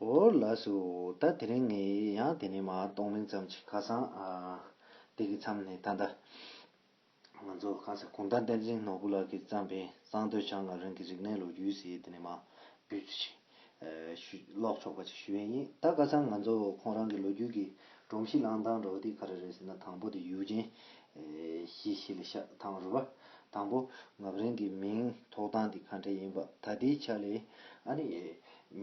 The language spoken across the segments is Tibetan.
ཨོ་ལ་སུ། ད་དེ་རིང་ངས་ཡང་དེ་ནས་མ་གཏོགས་མིང་ཙམ་གྱི་ཁ་སང། དེ་གི་མཚམས་ནས་ད་ལྟ། ང་ཚོ་གང་ཟེར་གུང་ཐང་བསྟན་འཛིན་ནོར་བུ་ལགས་ཀྱིས་བརྩམས་པའི་གཙང་སྟོད་བྱང་ང་རང་གི་རིག་གནས་ལོ་རྒྱུས་ཞེས་དེ་ནས་མ། བོད་ཀྱི་ཞིང། ཀློག་ཆོག་པ་ཅིག་ཞུ་ཡས་ཡིན་ད་ཀ་སང་ང་ཚོ་ཁོང་རང་གི་ལོ་རྒྱུས་ཀྱི་སྒྲོམ་གཞི་བླངས་སྟངས་རོགས་ཏིག་ག་རེ་རེད་ཟེར་ན་དང་པོ་དེ་ཡུལ་ཅན། བཞི་ཤེལ་ཤ་ཐང་རུ་བ། དང་པོ། ངག་རིང་གི་མིང་ཐོགས་སྟངས་དེ་ག་འདྲ་ཡིན་པ་ད་ལྟའི་ཆ་ལས་ཨ་ནི།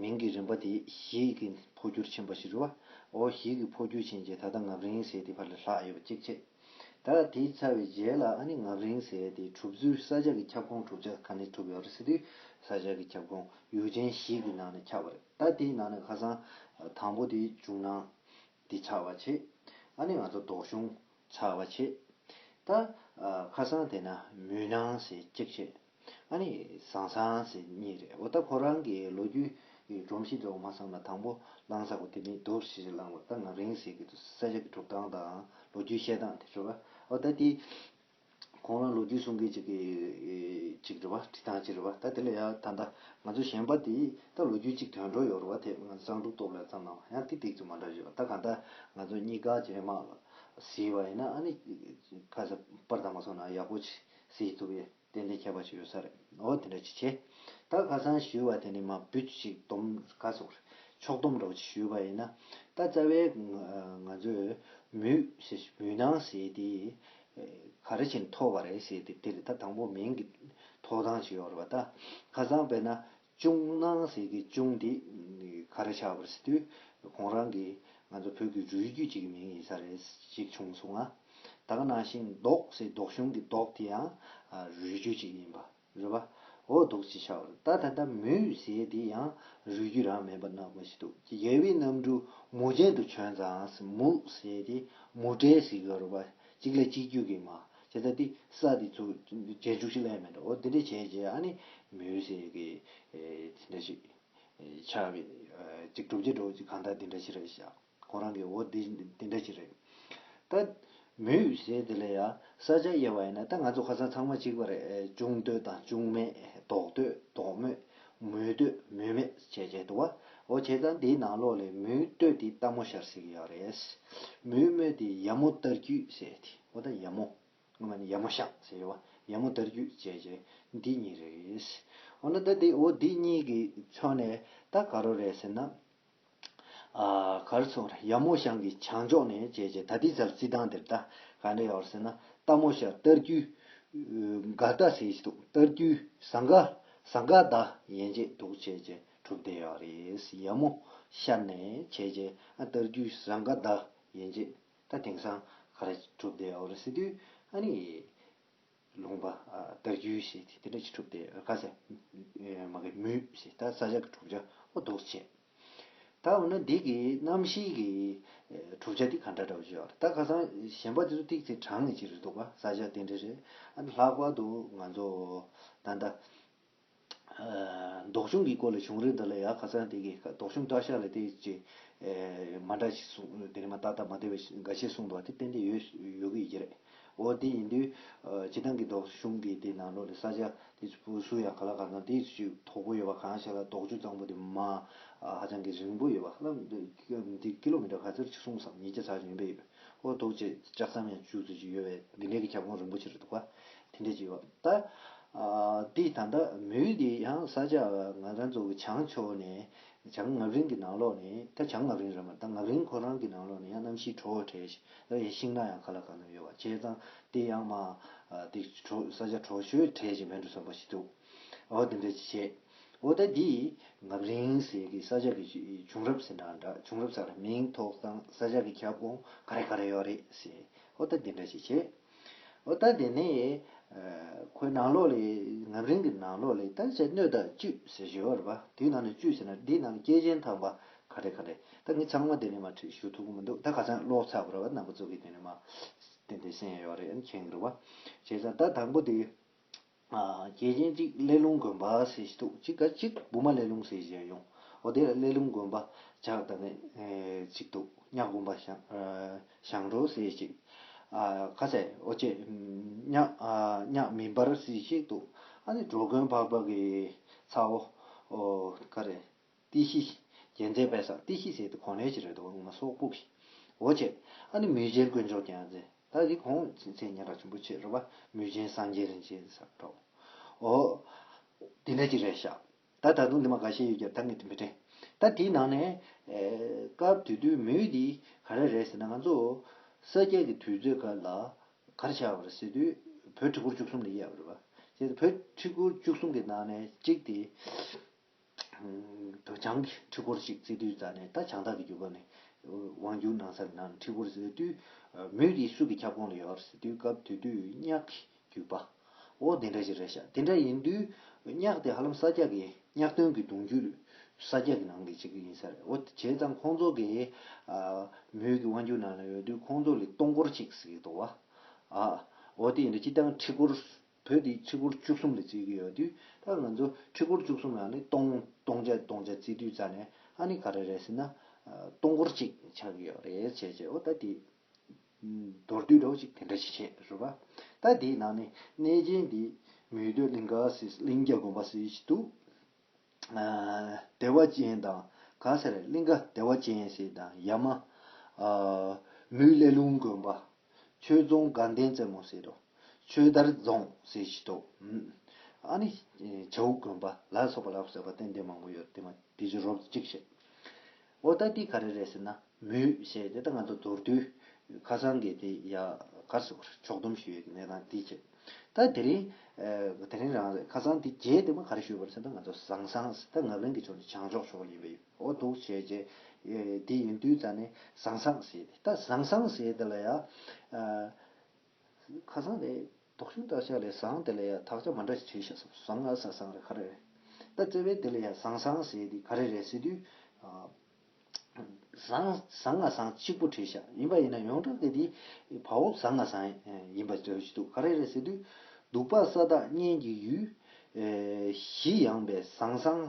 མིང་གི་རིམ་པ་དེ་བཞི་གི་འཕོ་འགྱུར་ཕྱིན་པ་ཞིག་རུ་བ། འོ་བཞི་གི་འཕོ་འགྱུར་ཕྱིན་རྗེས་ད་ལྟ་ངག་རིང་ཟས་དེ་ཕར་ལ་ལྷག་ཡོད་པ་གཅིག་བྱས། ད་ལ་དེ་ཚར་བའི་རྗེས་ལ་ཨ་ནི་ངག་རིང་ཟས་དེ་གྲུབ་ཚུལ་ས་ཆ་གི་ཁྱབ་ཁོངས་གྲུབ་ཆ་ག་ནས་གྲུབ་ཡོད་རེད་ཟེར་དུས་ས་ཆ་གི་ཁྱབ་ཁོངས་ཡུལ་ཆེན་བཞི་གི་ནང་ནས་ཁྱབ་པ་རེད་ད་དེའི་ནང་ནས་ཁ་སང་དང་པོ་དེ་བྱུང་ན་དེ་ཆགས་པ་བྱས། ཨ་ནི་ང་ཚོ་ལྡོག་གཞུང་ཚགས་པ་བྱེད། ད། ཁ་སང་དེ་ན་མུན་སྣང་ཟེར་གཅིག་བྱེད། ཨ་ནི་ཟང་ཟང་ཟེར་གཉིས་རེད་འོ་ད་ཁོ་རང་གི་ལོ་རྒྱུས་སྒྲོམ་གཞི་འདྲ་བོ་མ་བསམ་ན་དང་པོ་བླང་ས་གོ་དེ་མིན་དོག་གཞི་རེ་བླངས་པ་ད་ང་རིང་ཟེར་གི་འདུག་ས་ཆ་གི་གྲུབ་སྟངས་དང་ལོ་རྒྱུས་བཤད་སྟངས་དེ་ཆོ་ག་འོ་ད་དེ། ཁོང་རང་ལོ་རྒྱུས་གསུང་མཁན་ཅིག་གིས་རེད་བ། བྲིས་ཐང་ཅིག་རེད་བ། ད་དེ་ལ་ཡང་ད་ལྟ་ང་ཚོ་གཞན་པ་དེས་ད་ལོ་རྒྱུས་ཅིག་དོན་གྲོགས་ཡོད་རུ་བ་དེས་ང་ཚོ་གཙང་དྲུག་སྟོབས་ལས་ཙམ་ནང་བ་ཡང་ཏིག་ཏིག་ཅིག་མ་འདྲ་བཞི་བ་ད་གང་ལྟར་ང་ཚོ་གཉིས་དགའ་ཅིག་རེད་མ་གཟིགས་བ་ཡིན་ན་ཨ་ནི་ཁ་ས་པར་ཐང་མ་སོང་ན་ཡག་པོ་ཅིག་གཟིགས་ཐུབ་ཡས་ཏན་ཏན་ཁྱད་པར་ཅིག་ཡོད་ས་རེད་འོ་དེ་འདྲ་ཅིག་བྱས། ད་ཁ་སང་བཞི་བ་དེ་ནི་མ་བུད་ཅིག་དོམ་ཁ་སོགས་རེད་ཕྱོགས་སྡོམ་འདྲ་བོ་ཅིག་ཞུས་བ་ཡིན་ན་ད་རྩ་བའི་ང་ཚོས་མུས་མུས་ནང་བཟས་དེ་ག་རེ་བྱས་ནས་ཐོབ་པ་རེད་ཟེར་ཏེ་དེར་ད་དང་པོ་མིང་གི་ཐོག་དང་བྱས་ཡོད་རེད་པ་ད། ཁ་སང་བས་ན་ཅུང་སྣང་ཟེར་གི་ཅུང་དེ་ག་རེ་ཆགས་པར་ཟེར་དུས་ཁོང་རང་གིས་ང་ཚོ་བོད་ཀྱི་རུས་རྒྱུད་ཅིག་གི་མིང་ཡིན་ས་རེད་ཅིག་བྱུང་སོང་ང། ད་ག་ནང་བཞིན་མདོག་ཟེར་མདོག་གཞུང་གི་མདོག་དེ་ཡང་རུས་རྒྱུད་ཅིག་ཡིན་པ། རེད་པ། འོ་ལྡོག་ཅིག་བྱ་བར་ད་ད་ལྟ་མོའི་ཡུལ་ཟས་དེ་ཡང་རུལ་རྒྱུ་རང་མེད་པ་ནག་པོ་ཞིག་འདུག་ཅེས་རྒྱལ་བའི་རྣམ་འཕྲུལ་མུ་ཅན་དུ་བྱོན་ཙང་མུ་ཟས་དེ་མུ་དྲས་ཟིག་གི་རུལ་པ་གཅིག་ལ་གཅིག་རྒྱུད་ཀྱི་མ་ཇི་ལྟ་དེ་ས་དེ་ཚོ་རྗེས་འཇུག་ཅིག་ལས་མེད་འགྲོ་འོ་དེ་འདྲ་བྱས་རྗེས་ཨ་ནི་མོའི་ཟས་ཀྱི་དེ་འདྲ་ཞིག་ཆགས་པས་ཅིག་གྲུབ་ཀྱི་འགྲོ་ཅིག་གང་ལྟར་དེ་འདྲ་བྱེད་རོགས་ཞེས་བྱ། ཁོང་རང་གིས་འོ་འདི་འདི་འདྲ་ཅིག་རེད། ད། མོས་བཞེས་དེ་ལས་ཡ། ས་ཆ་དབྱེ་བ་ཡིན་ན་ད་ང་ཚོ་ཁ་སང་ཚང་མ་གཅིག་པ་རེད་ཅུང་ལྟོས་དང་ཅུང་མེད་ལྟོག་ལྟོས་ལྟོག་མོད། མོས་ལྟོས་མོས་མེད་བྱས་བྱས་དུ་བ། འོ་བྱས་ཙང་འདིའི་ནང་ལོགས་ལས་མོས་ལྟོས་དེ་ལྟ་མོ་ཤར་སྲིད་ཀྱི་ཡོད་རེད། མོས་མོས་དེ་ཡ་མོ་ལྟར་རྒྱུས་ཟེར་དེ་འོ་ད་ཡ་མོ། སྔོན་མ་ནི་ཡ་མོ་ཤག་ཟེར་བ་ཡ་མོ་ལྟར་རྒྱུས་བྱས་བྱས་འདི་གཉིས་རེད། འོ་ན་ད་འདི་འོ་འདི་གཉིས་ཀྱི་མཚོན་ནས་ད་ག་རོ་རེད་ཟེར་ན། གར་ཚོགས་ར་ཡབ་མོ་ཤང་གི་བྱང་ཕྱོགས་ནས་བྱས་རྗེས་ད་ལྟའི་ཟབ་རྩི་ཐང་དེར་ད་ག་འདྲ་ཡོད་ཟེར་ན་རྟ་མོ་ཤ་སྟར་རྒྱུའི་འགའ་རྟ་ཟེར་གྱི་འདུག་སྟར་རྒྱུའི་ཟ་འགའ་ཟ་འགའ་ད་ཡན་ཆད་འདུག་བྱས་རྗེས་གྲུབ་བསྡད་ཡོད་རེད་ཡབ་མོ་ཤ་ནས་བྱས་རྗེས་ཨ་སྟར་རྒྱུའི་ཟ་འགའ་ད་ཡན་ཆད་ད་དེང་སང་ག་རེ་གྲུབ་བསྡད་ཡོད་རེད་ཟེར་དུས་ཨ་ནི། ལུང་པ། རྟ་རྒྱུས་ཞེས་དེ་འདྲ་ཅི་གྲུབ་དེ་ཁ་ཟས། མ་གི་མུས་ཞེས་ད་ས་ཇག་གི་གྲུབ་ཆ་ཨོ་རྡོག་ཆེ། ད་འོ་ན་འདི་གི་རྣམ་ཤེས་ཀྱི་གྲུབ་ཆ་འདི་ག་འདྲ་འདྲ་བ་བརྗོད་ཨ། ད་ཁ་སང་གཞན་པ་དེ་ཚོ་ཏིག་ཚེ་དྲངས་ནས་ཅི་རེད་འདུག་བ་ས་ཇག་དེ་འདྲ་རེད་ཨ། ལྷག་པར་དུ་ང་ཚོ་ད་ལྟ། ལྡོག་ཆུང་གི་སྐོར་ལས་བྱུང་རིགས་འདི་ལ་ཡང་ཁ་ཚང་དེ་གའི་ལྡོག་ཆུང་བཀྲ་ཤག་ལ་དེ་ཅི། མ་འདྲ་ཞིག་གསུངས་དེ་ནས་མ་ཏག་ཏག་མ་བདེ་བའི་འགའ་ཤས་གསུངས་འདུག་བ་དེ་ཏན་ཏན་ཡོད་ཡོད་ཀྱི་ཡི་རེད། འོ་དེ་ཡིན་དུས། བྱེ་ཐང་གི་ལྡོག་ཆུང་གི་དེ་ནང་ལོགས་ལས་ས་ཆ་དེ་ཚོ་སུ་ཡང་ག་ལ་ག་ཚང་དེ་ཅི་དོག་པོ་ཡོད་པ་གང་ཞིག་ལ་ལྡོག་ཆུང་གཙང་པོ་དེ་མ་ཧ་ཅང་གི་རིང་པོ་ཡོད་པ་ལ། འདི་ཀི་ལོ་མི་ཏར་ག་ཚོད་ཅིག་གསུངས་སམ་ཉིས་བརྒྱ་ཚར་བྱོན་པས་ཡོད། ཨོ་འདུག་ཅེས་ལྕགས་ཟམ་ཡང་བཅུ་ཚུན་ཅིག་ཡོད་པའི་དགེ་འབྲས་ཀྱི་ཁྱབ་ཁོངས་རིན་པོ་ཆེར་འདུག་པ་དེ་འདྲས་ཅིག་ཡོད། ད་འདི་ད་ལྟ་མུའུ་འདི་ཡང་ས་ཆ་ང་རང་ཚོ་གི་བྱང་ཕྱོགས་ནས་བྱང་ངག་རིང་གི་ནང་ལོགས་ནས་ད་བྱང་ངག་རིང་རེད་མ་ད་ངག་རིང་ཁོ་རང་གི་ནང་ལོགས་ནས་ཡང་གནམ་གཤིས་དྲོ་བ་དྲས་ཤིང་ཡང་ཤིང་ནགས་ཡང་ག་ལ་གང་ན་ཡོད་པ་བྱས་ཙང་འདི་ཡང་མ་འདི་ས་ཆ་དྲོ་ཤོས་དྲས་ཤིང་བན་དྲུ་ཟམ་པ་ཞིག་འདུག་ཨོ་འདི་འདྲས་ཅིག་བྱས། འོ་ད་འདི་ངབ་རིང་ཟེར་གི་ས་ཆ་གི་བྱུང་རབས་ཟེར་ན་འདྲ་བྱུང་རབས་ས་ལ་མིང་ཐོག་སང་ས་ཆ་གི་ཁྱབ་ཁོངས་ག་རེ་ག་རེ་ཡོད་རེད་ཟེར་འོ་ད་འདི་འདྲ་ཞིག་བྱེད། འོ་ད་འདི་ནས་ཁོའི་ནང་ལོགས་ལས་ངབ་རིང་གི་ནང་ལོགས་ལས་ད་ཆ་སྣོད་དང་བཅུད་ཟེར་བཞི་བ་རེད་པ་དེའི་ནང་ནས་བཅུད་ཟེར་ན་འདི་ནང་ལ་སྐྱེས་ཆེན་ཐང་པ་ག་རེ་ག་རེ་ད་ངས་ཚང་མ་འདི་ནས་མ་ཁྲིད་ཞུ་ཐུབ་ཀི་མི་འདུག་ད་ག་ཚང་ཀློག་ཚར་བ་རེད་བ་ནང་པ་ཚོ་གི་དེ་ནས་མ་བསྟན་དེ་གསན་ཡོད་རེད་མཁྱེན་གི་རེད་བ། བྱས་ཙང་ད་དང་པོ་དེ་རྒྱལ་ཆེན་གཅིག་གླེ་ལུང་དགོན་པ་ཟེར་ཞིག་འདུག་གཅིག་ག་གཅིག་བུ་མ་གླེ་ལུང་ཟེར་ཞིག་ཡང་ཡོང་ཨོ་དེ་ལ་གླེ་ལུང་དགོན་པ་ཇག་དང་ནི་གཅིག་འདུག་གཉགས་དགོན་པ་ཞང་རོ་ཟེར་ཞིག་ཨ་ཁ་ཟས་ཨོ་ཅེ་གཉགས་མི་འབར་ཟེར་ཞིག་འདུག་ཨ་ནི་འགྲོ་མགོན་འཕགས་པ་གི་ཚའོ་ཨོ་ཁ་རེད། ཏི་ཤི། རྒྱལ་མཚན་དཔལ་བཟང་ཏི་ཤི་ཟེར་ཏེ་གོང་ལས་ཀྱི་རེ་དོགས་ངོ་མ་སོག་པུག་ཤི། འོ་ཆེ། ཨ་ནི་མུས་ཆེན་དཀོན་མཆོག་ཀྱང་ཟེར། ད་དེ་གོང་ཚེ་ཉེ་དྲགས་ཆུན་པོ་ཆེ་རུ་བ་མུས་ཆེན་སངས་རྒྱས་རིན་ཆེན་ཟེར་བ་འདྲ། འོ། དེ་འདྲ་ཅིག་རེད་ཤག། ད་ད་དུང་དེ་མ་ག་ཤེད་ཡོད་ཀྱི་ད་ངས་དེ་མི་དྲན། ད་དེའི་ནང་ནས། སྐབས་དེ་དུས་མུས་འདི་ག་རེ་རེད་ཟེར་ན་ང་ཚོ། ས་སྐྱ་ཀྱི་དུས་ཚོད་ག་ལ། ག་རེ་བྱས་པ་རེད་ཟེར་དུས། བོད་ཁྲི་སྐོར་བཅུ་གསུམ་ལས་གཡས་པ་རེད་བ། བྱས་ཏེ་བོད་ཁྲི་སྐོར་བཅུ་གསུམ་གྱི་ནང་ནས་གཅིག་དེ། དུ་བྱང་གི་ཁྲི་སྐོར་ཞིག་བརྩིགས་དུས་རྩ་ནས་ད་བྱང་ཐག་གི་རྒྱུ་བབས་ནས་དབང་བསྒྱུར་གནང་སར་ན་ཁྲི་སྐོར་ཟེར་དུས། མོས་འདི་སུ་གི་ཁྱབ་ཁོངས་ལ་ཡོད་ཟེར་དུས་སྐབས་དེ་དུས་གཉགས་ཀྱི་རྒྱུད་པ། འོ་དེ་འདྲ་ཞིག་རེད་ཤག་དེ་འདྲ་ཡིན་དུས། གཉགས་དེ་ཧ་ལམ་ས་སྐྱ་གི་གཉགས་སྟོན་གྱི་གདུང་རྒྱུད་ས་སྐྱ་གི་ནང་གི་གཅིག་ཡིན་ས་རེད་འོ་བྱས་ཙང་ཁོང་ཚོ་གི། མོས་ཀྱི་དབང་བསྒྱུར་ནང་ལ་ཡོད་དུས་ཁོང་ཚོ་ལས་སྟོང་སྐོར་ཅིག་ཟིག་འདུག་བ། འོ་དེ་ཡིན་དུས་ཅི་སྟེ་ཁྲི་སྐོར་བོད་འདི་ཆིག་སྒོར་བཅུ་གསུམ་ལ་བརྩི་གི་ཡོད་དུས་ད་ང་ཚོ་ཆིག་སྒོར་བཅུ་གསུམ་ལ་ནི་སྟོང་སྟོང་ཆ་སྟོང་ཆ་བརྩི་དུས་རྩ་ནས་ཨ་ནི་ག་རེ་རེད་ཟེར་ན། སྟོང་སྒོར་གཅིག་ཆགས་ཀྱི་ཡོད་རེད་བྱས་བྱས་འོ་ད་དེ། མདོར་བསྡུས་ལོ་གཅིག་དེ་འདྲ་ཞིག་བྱས་བཟོ་པ། ད་དེའི་ནང་ནས་གནས་ཆེན་འདི། མུས་འདོད་གླིང་ག་སེ་གླིང་རྒྱ་དགོན་པ་སེ་ཞིག་འདུག། བདེ་བ་ཅན་དང། ག་སེར་གླིང་ག་བདེ་བ་ཅན་ཞེས་དང་ཡ་མ། ལུས་ཀླད་རླུང་དགོན་པ། ཆོས་རྫོང་དགའ་ལྡན་རྩེ་མོ་ཟེར་རོ། ཆོས་དར་རྫོང་ཟེར་བཞི་ཏོ། ཨ་ནི། བྱ་ཨུ་དགོན་པ་ལ་སོགས་པ་ལ་ཟེར་བ་ཏན་ཏན་མང་པོ་ཡོད་དེ་མ་དེ་བཞིན་རོབ་ཅིག་བཤད། ཨོ་ད་འདི་ག་རེ་རེད་ཟེར་ན། མུས་ཞེས་དེ་ལྟར་ང་ཚོ་མདོར་བསྡུས། ཁ་སང་གི་དེ་ཡ་གར་སོགས་ཕྱོགས་བསྡོམས་ཞུས་ཡོད་ཀྱི་གནས་སྟངས་དེའི་ཆེད། ད་དེ་རིང། དེ་རིང་རང་རེད་ཁ་སང་དེ་རྗེས་དེ་མ་ག་རེ་ཞུས་པར་ཟེར་ན་ང་ཚོ་བཟང་བཟང་ཟེར་ད་ངག་ལན་གྱི་ཕྱོགས་ནས་བྱང་ཕྱོགས་ཕྱོགས་ཡིན་པས་ཨོ་འདུག་བྱས་རྗེས། དེ་ཡིན་དུས་ད་ནི་བཟང་བཟང་ཟེར་ཏེ་ད་བཟང་བཟང་ཟེར་དེ་ལ་ཡ། ཁ་སང་དེ། དོགས་ཞེན་དག་ཆ་ལས་བཟང་དེ་ལས་ཡག་དག་ཆ་མ་འདྲ་ཞིག་བྱས་ཤག་བསམ་བཟང་ང་ཟ་བཟང་རེད་ག་རེ་རེད། ད་བཙལ་བས་དེ་ལས་ཡག་བཟང་བཟང་ཟེར་དེ་ག་རེ་རེད་ཟེར་དུས། བཟང་བཟང་ང་བཟང་གཅིག་པོ་བྲིས་ཤག་ཡིན་པ་ཡིན་ན་ཡོངས་གྲགས་ཀྱི་དེ་བ་འོབས་བཟང་ང་བཟང་ཡིན་པ་བྲོས་ཀྱི་འདུག་ག་རེ་རེད་ཟེར་དུས། སྡུག་པ་ས་བདག་གཉན་གྱི་ཡུལ། བཞི་ཡངས་པའི་བཟང་བཟང།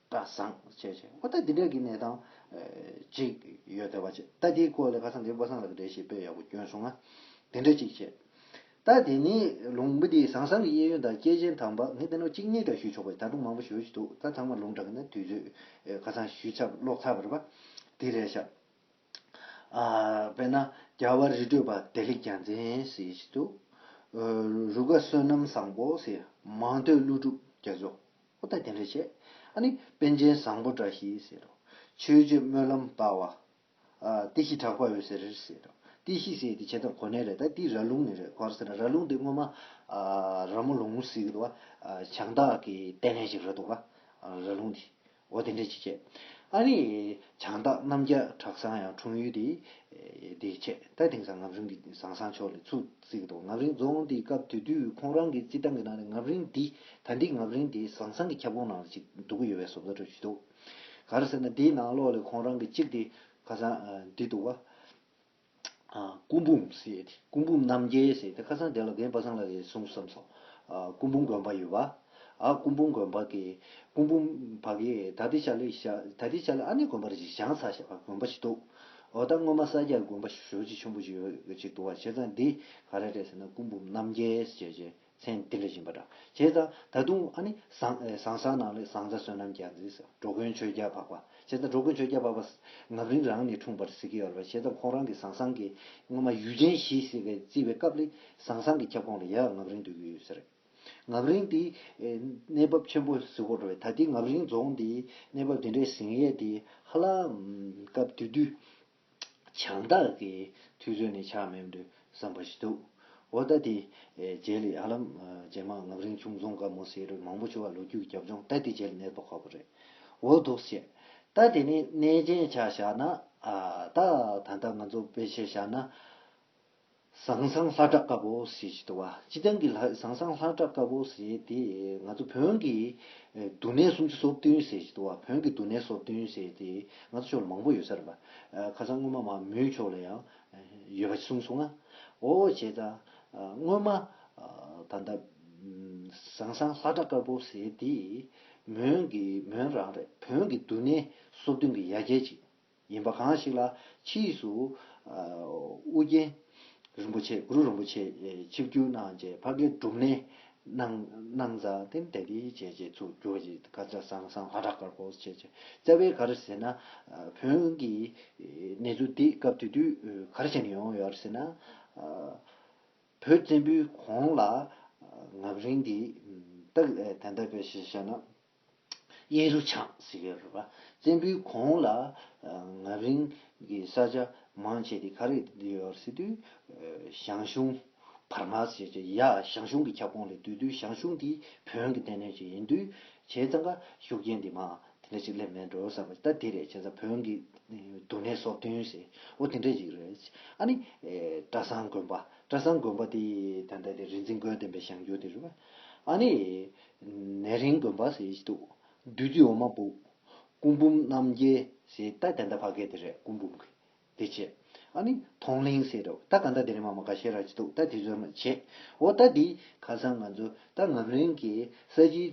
སྐལ་བཟང་བཅས་ཆེ་བ་དང་དེ་འདྲ་གི་གནས་སྟངས་ཅིག་ཡོད་སྟེ། བ་ཅད་ད་དེའི་སྐོར་ལས་ཁ་སང་དེ་པོ་སང་ལ་གི་འདྲའི་ཞེས་དཔེ་ཡག་པོ་བསྐྱོན་སོང་ང། དེ་འདྲ་ཅིག་བྱས། ད་དེ་ནི་ལུང་པ་དེའི་བཟང་བཟང་གི་གཡས་གཡོན་དང་སྐྱེས་ཆེན་དང་བག་ངས་བསྟན་ནོ་གཅིག་གཉིས་ཀྱང་ཞུས་ཆོག་པས་ད་དུང་མང་པོ་ཞུ་ཞིག་འདུག་ད་ཚང་མ་ལུང་དྲག་གི་ན་དུས་ཚོད་ཁ་སང་ཞུས་ཚབ་ཀློག་ཚབ་བར་པ་དེ་རེད་ཤག། དཔེར་ན་རྒྱལ་བ་རི་ཁྲོད་བདེ་ལེགས་རྒྱལ་མཚན་ཞེས་ཞིག་འདུག། རུ་དགའ་བསོད་ནམས་བཟང་པོ་ཞེས་མང་ཐོས་ཀླུ་སྒྲུབ་རྒྱ་མཚོ། ཨོ་ད་དེ་འདྲ་བྱས། ཨ་ནི་དཔལ་ཆེན་བཟང་པོ་འདྲ་ཞེས་ཟེར་རོ། ཆོས་རྗེ་སྨོན་ལམ་དཔའ་བ། ཨ། ཏི་ཤི་གྲགས་པ་འོད་ཟེར་རེད་ཟེར་རོ། ཏི་ཤི་ཟེར་དེ་བྱས་ཙང་གོ་གནས་རེད་ད་ཏི་ར་ལུང་ནས་རེད་གོ་ཟེར་ར་ལུང་དེ་སྔོན་མ། ར་མོ་ལུང་ཟེར་གི་འདུག་བ། བྱང་བདག་གི་ལྟས་ངན་ཞིག་རེད་འདུག་བ། ར་ལུང་དེ། ཨོ་དེ་འདྲ་ཅིག་བྱས། ཨ་ནི། བྱང་བདག་རྣམ་རྒྱལ་གྲགས་བཟང་ཡང་འཁྲུངས་ཡུལ་དེ། དེ་བྱས་ད་དེང་སང་ངམ་རུང་གི་བཟང་བཟང་ཕྱོགས་ལས་ཚུགས། གཟིགས་འདུག་ངམ་རིང་རྫོང་དེའི་སྐབས་དེ་དུས་ཁོང་རང་གི་རྩིས་ཐང་གི་ནང་ནས་ངམ་རིང་འདི་ད་འདི་ངམ་རིང་དེའི་ཟང་ཟང་གི་ཁྱབ་ཁོངས་ནང་ལ་ཅིག་འདུག་གི་ཡོད་པའི་བཟོ་བཀོད་འཕྲོད་ཀྱི་འདུག་ག་རེ་ཟེར་ན་དེའི་ནང་ལོགས་ལས་ཁོང་རང་གི་གཅིག་དེ་ཁ་སང་འདི་འདུག་བ། སྐུ་འབུམ་ཟེར་ཏེ་སྐུ་འབུམ་རྣམ་རྒྱལ་ཟེར་ཏེ་ཁ་སང་དེ་ལ་རྒན་པ་སངས་ལ་རེད་གསུངས་སམ་སོང། སྐུ་འབུམ་དགོན་པ་ཡོད་བ། ཨ་སྐུ་འབུམ་དགོན་འབག་གི། སྐུ་འབུམ་འབག་གི་ད་ལྟའི་ཆ་ལོའི་ཞག་ད་ལྟའི་ཆ་ལོའི་ཨ་ནེ་དགོན་པ་རེ་ཞིག་བྱང་ས་ཞེས་པ་དགོན་པ་ཞིག་འདུག་འོ་ད་སྔོན་མ་ས་སྐྱ་དགོན་པ་ཞོལ་གྱི་ཆུན་པོ་ཞིག་ཡོད་ཅིག་འདུག་བ་བྱས་ཙང་འདི་ག་རེ་རེད་ཟེར་ན་སྐུ་འབུམ་རྣམ་རྒྱལ་ཞེས་བྱས་མཚན་འདི་ལས་བཞིན་པ་འདྲ་བྱས་ཙང་ད་དུང་ཨ་ནེ་ཟང་ཟང་ས་ནང་ལས་ཟང་ཟ་བསོད་ནམས་རྒྱ་མཚེས་འགྲོ་མགོན་ཆོས་རྒྱལ་འཕགས་པ་བྱས་ཙང་འགྲོ་མགོན་ཆོས་རྒྱལ་འཕགས་པ་ངག་རིང་རང་ནས་འཁྲུངས་པར་ཟེར་གྱི་ཡོད་ལ་བ་བྱས་ཙང་ཁོང་རང་གི་ཟང་ཟང་གི་སྔོན་མ་ཡུལ་ཆེན་བཞི་ཟེར་བའི་བརྩི་བའི་སྐབས་ལས་ཟང་ཟང་གི་ཁྱབ་ཁོངས་ལ་ཡ་ངག་རིང་འདོད་ཀྱི་ཡོད་ས་རེད། ངག་རིང་དེའི་གནས་བབ་ཆེན་པོ་གཟིགས་འོག་འགྲོ་བས་ད་ལྟའི་ངག་རིང་རྫོང་དེའི་གནས་བབ་དེ་འདྲའི་གཟིགས་ཡས་དེ་ཧ་ལ། སྐབས་དེ་དུས་བྱང་བདག་གི་ཐུགས་བཟོད་ནས་ཆགས་མེད་དུ་བསམ་པ་ཞིག་འདུག་འོ་ད་དེ་རྗེས་ལས་ཧ་ལམ་རྗེས་མ་ངག་རིང་ཆུང་རྫོང་དགའ་མོ་སེ་རུ་མང་པོ་བྱུང་བ་ལོ་རྒྱུས་ཀྱི་རྒྱབ་ལྗོངས་ད་དེ་རྗེས་ལས་གནས་ཐོག་ཁག་པོ་རེད་འོ་འདུག་བཤད། ད་དེ་ནས་གནས་མཇལ་ཆ་བཞག་ན། ད་ད་ལྟ་ང་ཚོ་དཔེ་ཆ་བཞག་ན། ཟང་ཟང་ལྷ་གྲགས་དཀར་པོ་ཟེར་གྱི་འདུག་བ་སྤྱི་བཏང་གི་ལྷ་ཟང་ཟང་ལྷ་གྲགས་དཀར་པོ་ཟེར་དེ་ང་ཚོ་བོན་གྱི་འདུ་གནས་སུམ་ཅུ་སོ་བདུན་ཟེར་གྱི་འདུག་བ་བོན་གྱི་འདུ་གནས་སོ་བདུན་ཟེར་དེ་ང་ཚོ་ཕྱོགས་ལ་མང་པོ་ཡོད་ས་རེད་བ་ཁ་སང་སྔོན་མ་མ་མོའི་ཕྱོགས་ལ་ཡང་ཡོད་པ་གསུངས་སོང་ང་ཨོ་བྱས་ད་སྔོན་མ་ད་ལྟ་ཟང་ཟང་ལྷ་གྲགས་དཀར་པོ་ཟེར་དེ་མོན་གྱི་མོན་རང་རེད་བོན་གྱི་འདུ་གནས་སོ་བདུན་གྱི་ཡ་གྱལ་ཅིག། ཡིན་པ་གང་ཞིག་ལ་ཕྱིས་སུ། ཨུ་རྒྱན་རིན་པོ་ཆེ་གུ་རུ་རིན་པོ་ཆེས་ཆིབས་བསྒྱུར་གནང་རྗེས་བྷ་གའི་སྒྲུབ་གནས་གནང། གནང་བཟའ་ཏེ་འདས་དུས་བྱས་རྗེས་ཚུར་བསྒྱུར་བ་ཞིག་ཀ་ཅཱ་སང་སང་བྷ་དྲ་ཀར་བོ་ཟེར་བྱས། རྩ་བའི་གར་ཟེར་ན། བོན་གྱི་གནས་ཚུལ་འདི་སྐབས་དེ་དུས་གར་བྱེད་ནས་ཡོང་ཡོད་རེད་ཟེར་ན། བོད་བཙན་པོའི་གོང་ལ། ངག་རིང་འདི། སྟག་དན་ད་པའི་ཞེས་བྱ་ན། གཡས་རུ་ཆགས་ཟེར་གྱི་རེད་པ། བཙན་པོའི་གོང་ལ་ངར་རིང་གི་ས་ཆ་མང་ཆེ་དེ་ག་རེ་ཡོད་པར་སེ་དུས། ཞང་ཞུང། བར་མ་ཟེར་གྱི་ཡ། ཞང་ཞུང་གི་ཁྱབ་ཁོངས་ལས་དུས་དུས་ཞང་ཞུང་དེ་བོན་གྱི་རྟེན་གནས་ཤིག་ཡིན་དུས། བྱས་ཙང་ཁ་ཤུགས་རྐྱེན་དེ་མ་དེ་འདྲ་ཞིག་སླེབས་མེད་འགྲོ་བསམ་པ་ད་དེ་རེད་བྱས་ཙང་བོན་གྱི་འདུ་གནས་སོགས་བསྟུན་ཟེར་འོ་དེ་འདྲ་ཞིག་རེད། ཨ་ནི། བཀྲ་བཟང་དགོན་པ། བཀྲ་བཟང་དགོན་པ་དེ་ད་ལྟ་དེ་རིག་འཛིན་དགོན་བསྟན་པའི་ཞང་རྒྱུད་དེ་རེད་པ། ཨ་ནི། ནད་རིང་དགོན་པ་ཞེས་བཞི་འདུག་བདུད་རྩི་འོ་མ་སྦུབས། སྐུ་འབུམ་རྣམ་རྒྱལ་ཞེས་རྟ་དེ་འདྲ་བ་གས་དེ་རེད་སྐུ་འབུམ་གྱི་དེ་བྱེད། ཨ་ནི་དོང་གླིང་ཞེས་རེད་རྟ་ག་འདྲ་དེ་རེད་མ་མ་ག་ཤེས་ར་བྱེད་འདུག་རྟ་དེ་ཚོས་རེད་བྱེད། འོ་རྟ་དེ་ཁ་སང་ང་ཚོ་རྟ་ངམ་རིང་གི་ས་གཞིའི་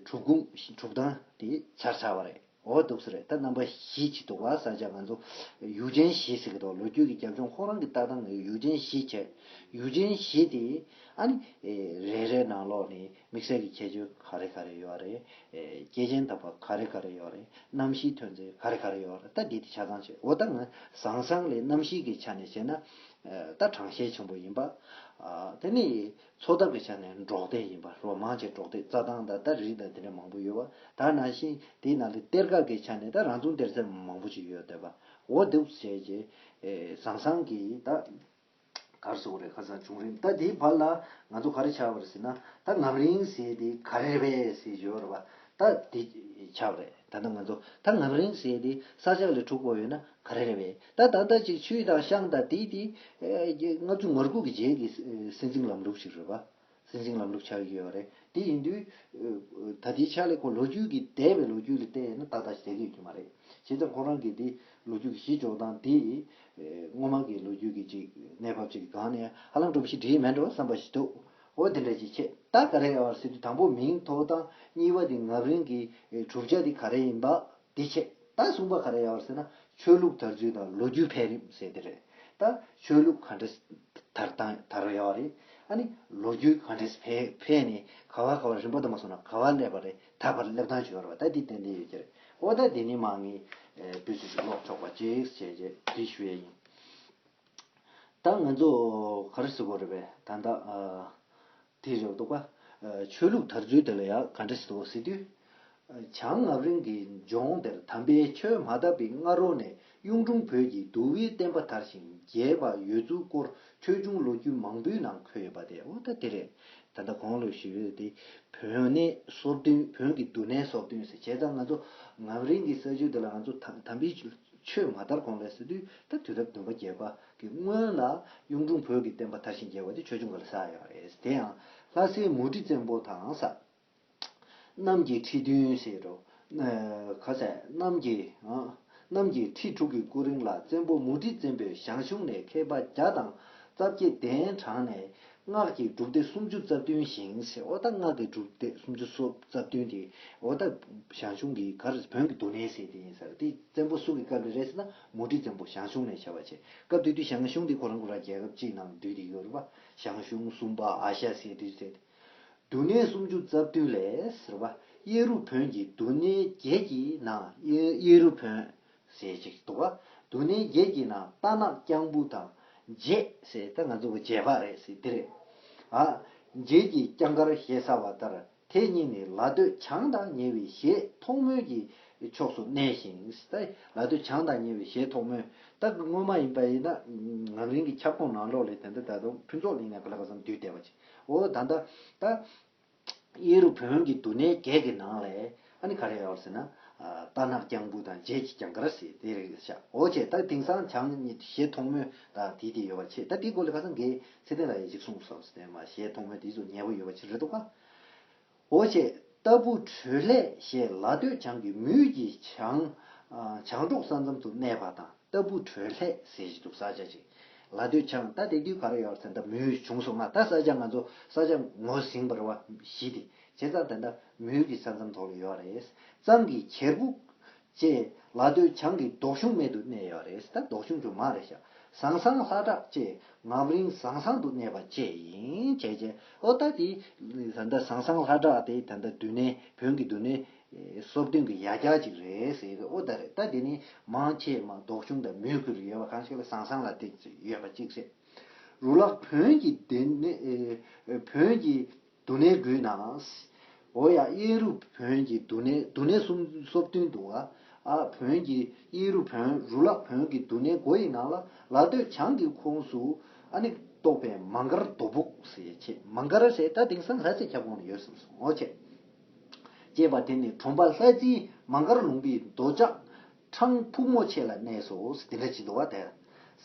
གྲུབ་ཁུངས་གྲུབ་སྟངས་དེ་ཆར་ཆགས་བ་རེད། འོ་སྡུག་ས་རེད་ད་རྣམ་པ་བཞི་ཅིག་འདུག་བ་ས་ཆ་ང་ཚོ་ཡུག་ཆེན་བཞི་ཟེར་གི་འདུག་ལོ་རྒྱུས་ཀྱི་རྒྱབ་ལྗོངས་ཁོང་རང་གི་ལྟ་སྟངས་ཡུག་ཆེན་བཞི་བྱས་ཡུག་ཆེན་བཞི་དེ་ཨ་ནི་རེ་རེ་ནང་ལོགས་ནས་དམིགས་བསལ་གྱི་ཁྱད་ཆོས་ག་རེ་ག་རེ་ཡོད་རེད་སྐྱེས་ཆེན་དམ་པ་ག་རེ་ག་རེ་ཡོད་རེད་གནམ་གཤིས་ཐོན་རྫས་ག་རེ་ག་རེ་ཡོད་རེད་ད་འདི་དེ་ཆ་ཚང་བྱས་འོ་ད་ང་བཟང་བཟང་ལས་གནམ་གཤིས་ཀྱི་ཆ་ནས་བྱས་ན་ད་དྲང་ཤེས་ཆེན་པོ་ཡིན་པ་དེ་ནི། འཚོ་ཐབས་ཀྱི་ཆ་ནས་འབྲོག་སྡེ་ཡིན་པ་རོ་མང་ཆེ་འབྲོག་སྡེ་རྩྭ་ཐང་དང་སྟར་རིགས་དང་དེ་འདྲ་མང་པོ་ཡོད་པ་དག་ནང་བཞིན་དེའི་ནང་དུ་གཏེར་ཁ་གི་ཆ་ནས་དང་རང་ཚུགས་གཏེར་རྩེ་མང་པོ་ཅིག་ཡོད་འདོད་པ་འོ་དུབ་བྱས་ཀྱི་ཟང་ཟང་གི་ད་གར་བཟོ་རེད་ཁ་སང་བྱུང་རིམ་ད་དེའི་བར་ལ་ང་ཚོ་ག་རེ་བྱ་བར་ཟེར་ན་ད་ངམ་རིང་ཟེར་དེ་ག་རེ་རེད་པས་ཟེར་བྱོས་ར་བ་ད་དེ་ཆགས་རེད་ད་ལྟ་ང་ཚོ་ད་ངམ་རིང་བསྲེས་ཏེ་ས་ཆགས་ལས་འཁྲུག་པོ་ཡོད་ན་ག་རེ་རེད་བས་ད་ད་ལྟ་ཅིག་ཆུའི་དང་ཤང་དང་དེའི་དེའི། ལྔ་བཅུ་ངར་ཁུག་གི་རྗེས་ཀྱི་སྲིད་འཛིན་ལམ་ལུགས་ཤིག་རེད་བ། སྲིད་འཛིན་ལམ་ལུགས་ཆགས་ཡོད་བ་རེད་དེ་ཡིན་དུས། ད་དེ་ཆགས་ལས་ཁོ་ལོ་རྒྱུས་ཀྱི་འདས་པའི་ལོ་རྒྱུས་ལ་བལྟས་ན་ད་ད་ཟེར་གི་ཡོད་ཀྱི་མ་རེད་བྱས་ཙང་ཁོ་རང་གི་དེ་ལོ་རྒྱུས་ཀྱི་གཞི་འཇོག་སྟངས་དེ། སྔོན་མ་གི་ལོ་རྒྱུས་ཀྱི་ཅིག་གནས་བབ་ཅིག་གི་སྒང་ནས་ཧ་ལམ་སྒྲོམ་གཞི་འདྲིས་མེད་འགྲོ་བསམ་པ་ཞིག་འདུག་འོ་དེ་འདྲ་ཞིག་ཆད་ལྟ་ག་རེ་ཡོང་བར་སེམས་ཀྱི་དང་པོ་མིང་ཐོ་དང་གཉིས་པ་དེ་ངབ་རིང་གི་གྲུབ་ཆ་དེ་ག་རེ་ཡིན་པ་དེ་ཆད་ལྟ་གསུམ་པ་ག་རེ་ཡོང་བར་ཟེར་ན་ཆོས་ལུགས་དར་ཚུལ་དང་ལོ་རྒྱུས་འཕེལ་རིམ་ཟེར་དེ་རེད་ད་ཆོས་ལུགས་ག་འདྲས་དར་དང་དར་ཡོང་བ་རེད་ཨ་ནི་ལོ་རྒྱུས་ག་འདྲས་འཕེལ་ནས་ག་བ་ག་བ་རིམ་པ་དུ་མ་སོང་ན་ག་བ་སླེབས་པ་རེད་ད་བར་སླེབས་སྟངས་ཇི་ཡོང་བ་ད་དེ་ཏན་ཏན་ཡོད་ཀྱི་རེད་འོ་ད་དེ་ནི་མ་ངས་བོད་ཆས་ཞིག་ཀློག་ཆོག་པ་ཅིག་བྱས་རྗེས་འབྲི་ཞུ་ཡས་ཡིན། ད་ང་ཚོ་ག་རེ་ཟེར་དགོས་རེད་པས་ད་ལྟ། དེ་རེད་འདུག་པ། ཆོས་ལུགས་དར་ཚུལ་དེ་ལ་ཡང་ག་འདྲེ་ཟེར་ཟེར་དུས། བྱང་ངམ་རིང་གི་ལྗོངས་དེར་དམ་པའི་ཆོས་མ་དར་བའི་སྔ་རོལ་ནས་གཡུང་དྲུང་བོད་ཀྱི་འདུལ་བའི་བསྟན་པ་དར་ཞིང་རྒྱས་པ་ཡོད་ཚུལ་སྐོར་ཆོས་འབྱུང་ལོ་རྒྱུས་མང་པོའི་ནང་འཁོད་ཡོད་པ་དེ་འོ་ད་དེ་རེད། ད་ལྟ་གང་ལོས་ཞིག་རེད་དེ། བོན་ནི་སོར་བདུན་བོན་གྱི་འདུལ་གནས་སོར་བདུན་ཟེར་བྱས་ཙང་ང་ཚོ་ངམ་རིང་གི་ས་ཆུ་དེ་ལ་ང་ཚོ་དམ་པའི། ཆོས་མ་དར་གོང་ལས་སོ་དུས་ད་དུས་རབས་བདུན་པ་བརྒྱད་པ་གི་སྔོན་ལ་གཡུང་དྲུང་བོད་ཀྱི་བསྟན་པ་དར་ཞིང་རྒྱས་པ་དེ་ཆོས་འབྱུང་ག་ལ་ཟག་ཡོད་རེད་དེ་ཡང་ལྷ་སའི་མུ་ཁྲི་བཙན་པོ་དང་ས་གནམ་གྱི་ཁྲི་བདུན་ཟེར་རོ། ག་ས་གནམ་གྱི། གནམ་གྱི་ཁྲི་དྲུག་གི་སྐུ་རིང་ལ་བཙན་པོ་མུ་ཁྲི་བཙན་པོས་ཞང་ཞུང་ནས་མཁས་པ་བརྒྱ་དང་རྩ་བརྒྱད་གདན་དྲངས་ནས་སྔགས་ཀྱི་སྒྲུབ་སྡེ་སུམ་ཅུ་རྩ་བདུན་བཞེངས་སའི་ཨོ་ད་སྔགས་ཀྱི་སྒྲུབ་སྡེ་སུམ་ཅུ་སོ་རྩ་བདུན་དེ་ཨོ་ད་ཞང་ཞུང་གི་གར་བོན་གྱི་འདུ་གནས་སའི་དེ་ཡིན་ཟེར་དེ་བཙན་པོ་སུ་གི་སྐབས་ལས་རེད་ཟེར་ན་མུ་ཁྲི་བཙན་པོ་ཞང་ཞུང་ནས་བྱ་བ་བྱས་སྐབས་དེ་དུས་ཞང་ཞུང་དེ་ཁོ་རང་ཁོ་རང་རྒྱལ་ཁབ་གཅིག་ནང་འདུས་ཏེ་ཡོ་རུ་པ་ཞང་ཞུང་སུམ་པ་ཨ་ཤ་སའི་དུས་ཟེར་ཏེ། འདུ་གནས་སུམ་ཅུ་རྩ་བདུན་ལས་ཟེར་བ་གཡས་རུ་བོན་གྱི་འདུ་གནས་བརྒྱད་ཀྱི་ནང་གཡས་རུ་བོན་ཟེར་ཅིག་དུ་བ་དུ་ནས་བརྒྱད་ཀྱི་ནང་རྟ་ནག་རྐྱང་བུ་དང། བརྒྱད་ཟེར་ད་ང་ཚོ་བརྒྱད་བརྒྱད་པ་རེད་ཟེར་འདི་རེད། བརྒྱད་ཀྱི་རྐྱང་དཀར་ཞེ་ས་བ་ལྟར་དེ་གཉིས་ནི་ལ་སྟོད་བྱང་དང་ཉེ་བའི་གཞས་མཐོང་མོལ་གྱི་ཕྱོགས་སུ་གནས་ཤིང། ལ་སྟོད་བྱང་དང་ཉེ་བའི་གཞས་མཐོང་མོལ་ད་གི་སྔོན་མ་ཡིན་པ་ཡིན་ན་ངག་རིང་གི་ཁྱབ་ཁོངས་ནང་ལོགས་ལས་དེ་འདྲ་ད་དུང་ཕུན་ཚོགས་གླིང་ནས་ག་ལ་ག་སང་འདུས་བསྡད་པ་ཅིག་འོ་ད་ད། གཡས་རུ་བོན་གྱི་འདུ་གནས་བརྒྱད་ཀྱི་ནང་ལས། ཨ་ནི་ག་རེ་ཡོད་ཟེར་ན། རྟ་ནག་རྐྱང་འབུ་དང་རྗེས་ཀྱི་རྐྱང་དཀར་ཟེ་དེ་རེད་ཤའོ་བྱས་ད་དེང་སང་བྱང་ཞེས་ཐོག་མོའི་དང་དེའི་དེ་ཡོད་པ་ཆེ་ད་དེའི་སྐོར་ལས་ཁ་སང་འགའི་ཚེ་བརྟན་ལ་ཡ་ཅིག་གསུངས་སོང་ཟེར་མ་ཞེས་ཐོག་མོའི་དེའི་ཚོ་ཉེ་བོ་ཡོད་པ་ཆེ་རེད་འདུག་ག། འོ་བྱས་རྟ་འབུ་དྲོད་ལྷས་ཞེས་ལ་སྟོད་བྱང་གི་མུས་ཀྱི་བྱང། བྱང་འབྲོག་ས་མཚམས་སུ་གནས་པ་དང། ལྟ་བུ་དྲོད་ལྷད་ཟེར་གྱི་འདུག་ས་ཆ་གཅིག་ལ་སྡོད་ཆ་ང་ད་དེ་དུས་ག་རེ་ཡོད་རེད་ད་མུའུ་བྱུང་སོང་ང་ད་ས་ཆ་ང་ཚོ་ས་ཆ་ངོ་ཟིང་བར་བ་བཞི་དེ་བྱས་ཙང་དེ་འདྲ་མུའུ་གི་ས་མཚམས་ཐོག་ལ་ཡོད་རེད་གཙང་གི་གྱེར་བུ། བཅས་ལ་སྡོད་ཆ་ངའི་ལྡོག་གཞུང་སྨད་དུ་གནས་ཡོད་རེད་ད་ལྡོག་གཞུང་ཆུང་མ་རེད་ཤག་ཟང་ཟང་ལྷ་བྲག་བཅས་ངམ་རིང་ཟང་ཟང་དུ་གནས་པ་བཅས་ཡིན་བྱས་བྱས་ཨོ་ད་དེ་ད་ཟང་ཟང་ལྷ་བྲག་དེ་ད་འདུ་གནས་བོན་གྱི་འདུ་གནས། སྲོག་བདུན་གྱི་ཡ་གྱལ་ཅིག་རེད་ཟེར་གྱི་ཨོ་ད་རེད་ད་དེ་ནི་མང་ཆེས་མ་ལྡོག་ཆུང་དང་མོས་གུས་རུ་ཡོད་པ་གང་ཞིག་ལ་བཟང་བཟང་ལ་བཏེགས་ཚོད་ཡོད་པ་གཅིག་རེད། རུ་ལག་བོན་གྱི་སྡེ་ནི་བོན་གྱི་འདུ་གནས་དགུའི་ནང་ཨོ་ཡ་གཡས་རུ་བོན་གྱི་འདུ་གནས་འདུ་གནས་གསུམ་སྲོག་བདུན་འདུ་བ་ཨ་བོན་གྱི་གཡས་རུ་བོན་རུ་ལག་བོན་གྱི་འདུ་གནས་དགུ་ཡི་ནང་ལ་ལ་སྟོད་བྱང་གི་ཁོངས་སུ་ཨ་ནི་གཏོགས་པའི་མ་མགར་རྡོ་སྦུག་ཟེར་ཆེས་མ་མགར་ཟེར་ད་དེང་སང་ལྷ་རྩེ་ཁྱབ་ཁོངས་ནས་ཡོད་བསམ་སོང་ཨོ་ཆེ། ཅེས་པ་དེ་ནི་གྲོང་པ་ལྷ་རྩེའི་མ་མགར་ལུང་པའི་མདོ་ལྕགས་འཕྲང་ཕུག་མོ་ཆེ་ལ་གནས་སོ་ཟེར་དེ་འདྲ་བྱེད་འདུག་བ་དེར་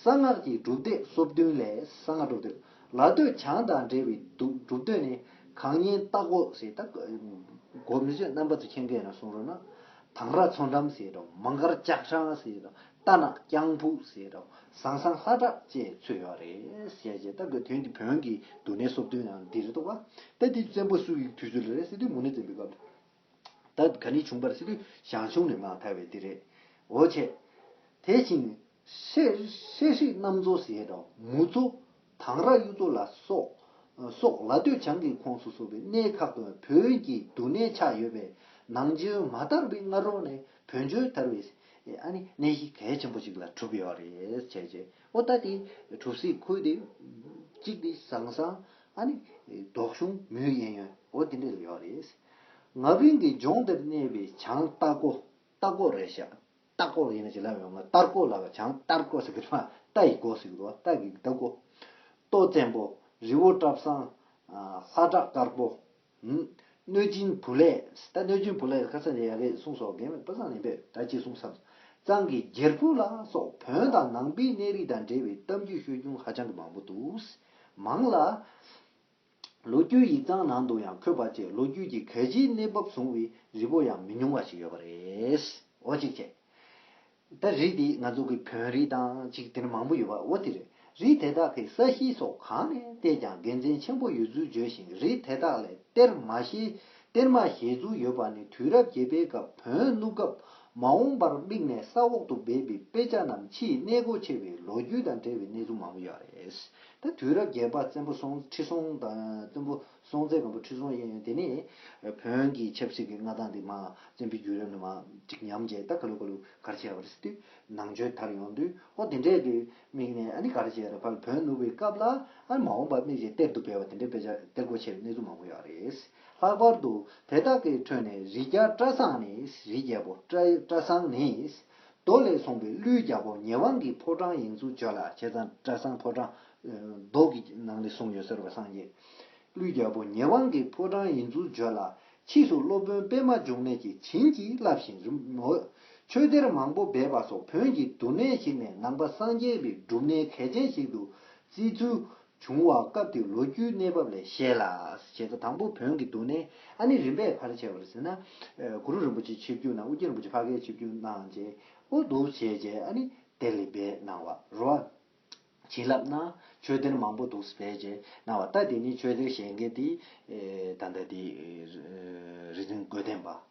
གསང་སྔགས་ཀྱི་སྒྲུབ་སྡེ་སོ་བདུན་ལས་གསང་སྔགས་སྒྲུབ་སྡེ་ལ་སྟོད་བྱང་དང་འབྲེལ་བའི་སྒྲུབ་སྡེ་ནི་གང་ཉན་རྟག་གོ་ཞེས་ད་གོ་མི་ཆོད་རྣམ་པ་ཚོས་མཁྱེན་མཁན་ལ་གསུང་རོགས་གནང། དང་ར་མཚོ་འགྲམ་ཟེར་རོ་མ་མགར་ལྕགས་འཕྲང་ཟེར་རོ་རྟ་ནག་རྐྱང་ཕུག་ཟེར་རོ། ཟང་ཟང་ལྷ་བྲག་བཅས་ཚུད་ཡོད་རེད། ཞེས་བྱས་སྟབས་ཀྱི་དོན་གྱི་བོན་གྱི་འདུག་གནས་གསོབ་ཐུང་ཡང་འདི་རེད་དོ། ད་དེ་བཙན་པོ་སུ་ཡི་དུས་སུ་རེད་ཟེར་དུས་མུ་ནེ་བཙན་པོའི་སྐབས། ད་ག་ནི་བྱུང་པར་ཟེར་དུས་ཞང་ཞུང་ནས་མངགས་ཐལ་བས་འདི་རེད། འོ་ཆེ། དེ་བཞིན། ཧྲེ་ཧྲི་རྣམ་གཙོ་ཟེར་རོ། མུ་གཙོ། དྭངས་ར་གཡུ་མཚོ་ལ་སོགས། སོགས་ལ་སྟོད་བྱང་གི་ཁོངས་སུ་གསོ་བའི་གནས་ཁག་ཏུ་བོད་བན་གྱི་འདུ་གནས་ཆགས་ཡོད་པས་ནང་ཆེན་མ་དར་བའི་སྔ་རོལ་ནས་བོན་ཆོས་དར་བའི་གནས་གཞི་གལ་ཆེན་པོ་ཞིག་ལ་གྲུབ་ཡོད་རེད་བྱས་རྗེས་པོ་ཏཱ་དེ་གྲུབ་སའི་ཁུལ་དེ་གཅིག་དེ་ཟང་ཟང་དོག་གཞུང་མུའུ་གཡན་ཡོན་འོ་དེ་འདྲ་ལ་ཡོད་རེད། ང་བན་གྱི་ལྗོངས་འདིར་གནས་པའི་བྱང་རྟ་སྒོ་རྟ་སྒོ་རེད་བཞག། རྟགས་སྐོར་ཡིན་ན་བྱིན་རླབས་ཡོང་ངོ་ལྟར་སྐོར་ལ་བ་བྱང་ལྟར་སྐོར་ཟེར་གི་རེད་མ་རྟ་ཡི་སྒོ་ཟེར་གི་འདུག་བ་རྟ་གི་རྟ་སྒོ། ཏོག་བཙན་པོ། རི་བོ་བཀྲ་བཟང། ལྷ་བྲག་དཀར་པོ། གནོད་སྦྱིན་བུ་ལས། ད་གནོད་སྦྱིན་བུ་ལས་ཁ་ས་ནས་ཡ་རེད་གསུངས་སོ་རྒན་མོས་དཔེ་བཟང་ལེན་པས་ད་ཅི་གསུངས་སམ། གཙང་གི་རྒྱལ་པོ་ལ་སོགས་བོན་དང་ནང་པའི་གནས་རི་དང་འབྲེལ་བའི་གཏམ་རྒྱུད་ཤོད་རྒྱུན་ཧ་ཅང་གི་མང་པོ་འདུག། མང་ལ། ལོ་རྒྱུས་ཡིག་ཚང་ནང་དུ་ཡང་འཁོད་པ་བཅས་ལོ་རྒྱུས་ཀྱི་གལ་ཆེའི་གནས་བབ་བཟུང་བའི་རི་བོ་ཡང་མི་ཉུང་བ་ཞིག་ཡོད་པ་རེད། འོ་ཅིག་ཅེ། ད་རི་དེ་ང་ཚོ་གི་བོན་རི་དང་ཅིག་དེར་མང་པོ་ཡོད་པ་འོ་དེ་རེད། རི་དེ་དག་གི་ས་གཤིས་སོགས་གང་ནས་བལྟས་ཀྱང་དགེ་མཚན་ཆེན་པོ་ཡོད་ཚུལ་བརྗོད་བཞིན་རི་དེ་དག་ལས་གཏེར་མ་ཞེགཏེར་མ་བཞེས་ཚུལ་ཡོད་པ་ནི་དུས་རབས་བརྒྱད་པའི་སྐབས་བོན་བསྣུབས་སྐབས་མ་འོངས་པར་དམིགས་ནས་ས་འོག་ཏུ་སྦས་པའི་དཔེ་ཆ་རྣམས་ཕྱིའི་གནས་སྒོ་ཕྱེ་བའི་ལོ་རྒྱུས་དང་འབྲེལ་བའི་གནས་ཚུལ་མང་པོ་ཡོད་རེད། ད་དུས་རབས་བརྒྱད་པ་བཙན་པོ་སྲོང་ཁྲི་སྲོང་དང་བཙན་པོ་སྲོང་བཙན་སྒམ་པོ་ཁྲི་སྲོང་གཡས་གཡོན་དེ་ནི། བོན་གྱི་ཆབ་སྲིད་ཀྱི་མངའ་ཐང་དེ་མང་བཙན་པོའི་རྒྱུད་རབས་ནས་མང་གཅིག་ཉམས་བྱས་ད་ག་ལུ་ག་ལུ་གར་བྱས་པ་རེད་ཟེར་དུས་ནང་ཆོས་དར་ཡོང་དུས་ཨོ་དེ་འདྲས་དུས་དམིགས་ནས་ཨ་ནི་གར་བྱས་ར་ཕར་བོན་ནུབ་པའི་སྐབས་ལ་ཨ་མ་འོངས་པ་དམིགས་བྱས་གཏེར་དུ་སྤེལ་བ་དེ་འདྲས་དཔེ་ཆ་གཏེར་སྒོ་ཕྱེས་པའི་གནས་ཚུལ་མང་པོ་ཡོད་རེད། ལྷག་པར་དུ་དེ་དག་གི་ཁྲོད་ནས་རི་རྒྱ་བཀྲ་བཟང་ནི་རི་རྒྱལ་པོ་བཀྲ་བཟང་ནི་རྡོ་ལས་ཚོང་པའི་གླུའི་རྒྱ་སྒོ་ཉེ་བ་འགའི་ཕོ་བྲང་ཡིན་ཚུལ་བརྗོད་ལ་བྱས་ཙང་བཀྲ་བཟང་ཕོ་བྲང། རྡོ་གི་ནང་ནས་བཟུང་ཡོད་ཟེར་བ་སངས་རྒྱས། གླུའི་རྒྱ་སྒོ་ཉེ་བ་འགའི་ཕོ་བྲང་ཡིན་ཚུལ་བརྗོད་ལ་ཕྱིས་སུ་སློབ་དཔོན་པད་མ་འབྱུང་གནས་ཀྱིས་བྱིན་གྱིས་བརླབས་ཤིང་རི་མོ། ཆོས་གཏེར་མང་པོ་སྦས་པ་སོགས་བོན་གྱི་འདུ་གནས་ཞིག་ནས་ནང་པ་སངས་རྒྱས་པའི་སྒྲུབ་གནས་གལ་ཆེན་ཞིག་ཏུ་བརྩིས་ཚུལ་བྱུང་བ་སྐབས་ཀྱི་ལོ་རྒྱུས་གནས་བབ་ལས་ཤེས་ལ། བྱེད་ས་དང་པོ་བོན་གྱི་འདུག་གནས་ཨ་ནི་རིམ་པས་ཕར་ཆེར་བར་ཟིན་ན། གུ་རུ་རིན་པོ་ཆེ་ཆིབས་བསྒྱུར་ནང་དབུ་རྒྱན་རིན་པོ་ཆེ་ཕ་གའི་ཆིབས་བསྒྱུར་གནང་རྗེས་དབུ་འདུག་བྱས་རྗེས་ཨ་ནི་དེར་ལས་སྦས་གནང་བ་རུ། བྱིན་རླབས་གནང་ཆོས་སྡེར་མང་པོ་འདུག་སྦས་རྗེས་གནང་བ་ལྟ་དེ་ནི་ཆོས་སྡེར་བཞེངས་མཁན་དེ། ད་ལྟ་དེ། རིག་འཛིན་སྒོས་བསྟན་པ།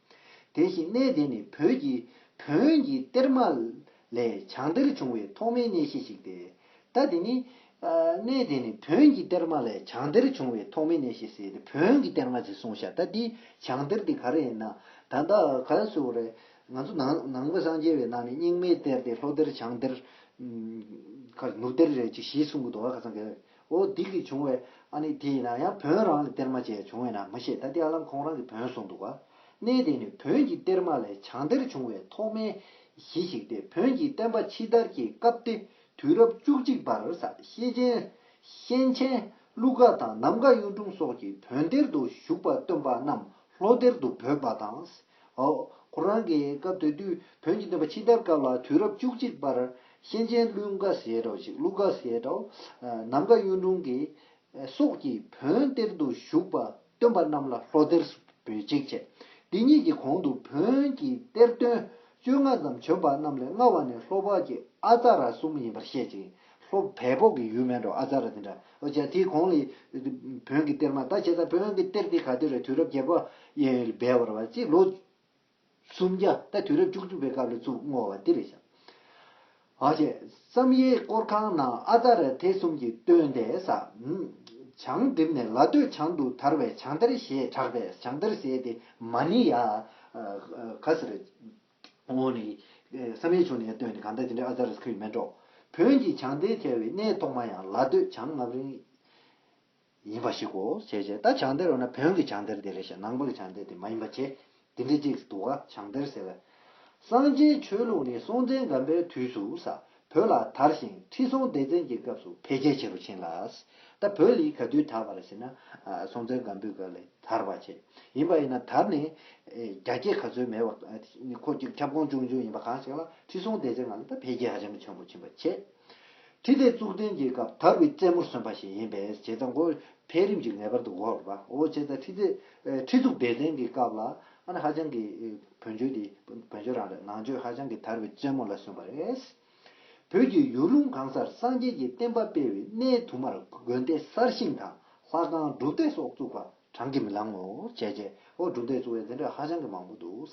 དེ་བཞིན་གནས་དེ་ནི་བོད་ཀྱི་བོན་གྱི་གཏེར་མ་ལས་བྱང་གཏེར་བྱུང་བའི་ཐོག་མའི་གནས་གཞི་ཞིག་སྟེ། ད་དེ་ནི། གནས་དེ་ནི་བོན་གྱི་གཏེར་མ་ལས་བྱང་གཏེར་བྱུང་བའི་ཐོག་མའི་གནས་གཞི་ཟེར་ཏེ་བོན་གྱི་གཏེར་མ་ཟེར་གསུང་བྱ་ད་དེའི་བྱང་གཏེར་དེ་ག་རེ་ཡིན་ན་ད་ད་ག་ལ་ཚོད་རེད། ང་ཚོ་ནང་ནང་པ་སངས་རྒྱས་པའི་ནང་ནས་རྙིང་མའི་གཏེར་དེ་ལྷོ་གཏེར་བྱང་གཏེར། ནུབ་གཏེར་རེད་ཅིག་ཞིག་གསུང་གི་འདུག་ག་ཚང་གི། འོ་སྡིག་གིས་བྱུང་བའི་ཨ་ནི་དེ་ཡིན་ན་ཡང་བོན་རང་ལས་གཏེར་མ་བྱས་བྱུང་བས་ན་མི་ཤེས་ད་དེ་ཨ་ལམ་ཁོང་རང་གིས་བོན་གསུངས་འདུག་ག། གནས་དེ་ནི་བོན་གྱི་གཏེར་མ་ལས་བྱང་གཏེར་བྱུང་བའི་ཐོག་མའི་གཞི་ཞིག་སྟེ་བོན་གྱི་བསྟན་པ་ཕྱི་དར་གྱི་སྐབས་ཏེ་དུས་རབས་བཅུ་གཅིག་པར་ཤེས་ཆེན། གཤེན་ཆེན། ཀླུ་དགའ་དང་ནམ་མཁའ་གཡུང་དྲུང་སོགས་ཀྱིས་བོན་གཏེར་དུ་བཞུགས་པ་སྟོན་པ་རྣམས་ལྷོ་གཏེར་དུ་འབོད་པ་དང། ཁོ་རང་གིས་སྐབས་དེ་དུས་བོན་གྱི་འདོན་པ་ཕྱི་དར་སྐབས་ལ་དུས་རབས་བཅུ་གཅིག་པར་གཤེན་ཆེན་ཀླུ་མཁའ་ཟས་གྲོགས་ཤིག་ཀླུ་མཁའ་ཟས་གྲོགས་ནམ་མཁའ་གཡུང་དྲུང་གི་སོགས་ཀྱིས་བོན་གཏེར་དུ་བཞུགས་པ་སྟོན་པ་རྣམས་ལ་ལྷོ་གཏེར་སུ་འབུལ་ཅིག་བྱས། འདི་གཉིས་ཀྱི་གོང་དུ་བོན་གྱི་གཏེར་སྟོན་བཅོ་ལྔ་ཙམ་བྱོན་པ་རྣམས་ལས་སྔ་བ་ནི་ལྷོ་ཕག་གི་ཨ་ཙཱ་ར་གསུམ་ཡིན་པར་བཤད་ཅིང་ལྷོ་བལ་བོག་གི་ཡུལ་སྨད་དུ་ཨ་ཙཱ་ར་དེ་འདྲ་ཨོ་རྒྱན་དེའི་གོང་ལས། བོན་གྱི་གཏེར་མ་ད་བྱས་ཙང་བོན་གྱི་གཏེར་དེ་ག་དུས་ར་དུས་རབས་བརྒྱད་པ། སྦས་བར་བ་ཅིག་ལོ། སུམ་བརྒྱ་ད་དུས་རབས་བཅུ་གཅིག་པའི་སྐབས་ལ་བཙུགས་བསྔོ་བ་འདི་རེད་བྱ། ཨོ་རྒྱན། བསམ་ཡས་དཀོར་ཁང་ན་ཨ་ཙཱ་ར་དྷའི་གསུམ་གྱི་སྟོན་ཟླའི་ས། བྱང་བསྒྲིབས་ནས་ལ་སྟོད་བྱང་དུ་དར་བས་བྱང་གཏེར་ཞེས་གྲགས་པས་བྱང་གཏེར་ཟེར་ཏེ་མ་ནི་ཡ། ག་སེར། འོ་ནི། བསམ་ཡས་ཆོས་ནི་ཡང་སྟོན་ནི་གང་དག་དེ་འདྲའི་ཨ་ཛཱ་རཱས་ཁུ་ཡི་སྨན་སྒྲོག། བོན་གྱི་བྱང་གཏེར་ཁྱེར་བའི་གནས་ཐོག་མ་ཡང་ལ་སྟོད་བྱང་ངམ་རིང། ཡིན་པ་ཞིག་གོ་བྱས་བྱས་ད་བྱང་གཏེར་འོ་ན་བོན་གྱི་བྱང་གཏེར་དེ་རེད་བྱས་ནང་པ་གི་བྱང་གཏེར་དེ་མ་ཡིན་པ་བྱས་དེ་འདྲའི་ཅིག་འདུག་ག་བྱང་གཏེར་ཟེར་བས། སངས་རྒྱས་ཆོས་ལུགས་ནི་སྲོང་བཙན་སྒམ་པའི་དུས་སུ་ས་བོད་ལ་དར་ཞིང་ཁྲི་སྲོང་ལྡེ་བཙན་གྱི་སྐབས་སུ་འཕེལ་རྒྱས་ཆེ་རུ་ཕྱིན་ལ། ད་བོད་ལི་ག་དུས་དར་བར་བྱེད་ན་སྲོང་བཙན་སྒམ་པོའི་སྐབས་ལས་དར་བར་བྱེད། ཡིན་པ་ཡིན་ན་དར་ནི་རྒྱ་སྐྱེད་ག་ཚོད་མེད་པར་ཁོ་ཅིག་ཁྱབ་ཁོངས་ཅུང་ཆུང་ཡིན་པ་གང་ཞིག་ལ་ཁྲི་སྲོང་ལྡེ་བཙན་སྔ་ལས་ད་འཕེལ་རྒྱས་ཧ་ཅང་གི་ཆེན་པོ་ཕྱིན་པར་བྱེད། ཁྲི་ལྡེ་གཙུག་བརྟན་གྱི་སྐབས་དར་བའི་རྩེ་མོར་སོན་པ་ཞིག་ཡིན་པས་བྱེད་ད་འགོ་འཕེལ་རིམ་གྱི་ངེས་པར་དུ་འགོར་བའོ་བྱེད་ད་ཁྲི་ལྡེ་གཙུག་བདེ་བཙན་གྱི་སྐབས་ལ་ཧ་ཅང་གི། བོན་ཆོས་འདི་བོན་ཆོས་རང་རེད་ནང་ཆོས་ཧ་ཅང་གི་དར་བའི་རྩེ་མོ་ལ་སོན་པ་རེད། བོད་ཀྱི་ཡུལ་ལུང་གང་སར་སངས་རྒྱས་ཀྱི་བསྟན་པ་སྤེལ་བའི་གནས་དུ་མར་དགོན་སྡེ་གསར་ཤིང་དང་ལྷ་ཁང་སྒྲུབ་སྡེ་སོགས་བཙུགས་པ་བགྲང་གིས་མི་ལང་ངོ། བྱས་རྗེས་འོག་སྒྲུབ་སྡེ་བཙུགས་བའི་འཛིན་གྲྭ་ཧ་ཅང་གི་མང་པོ་འདུག།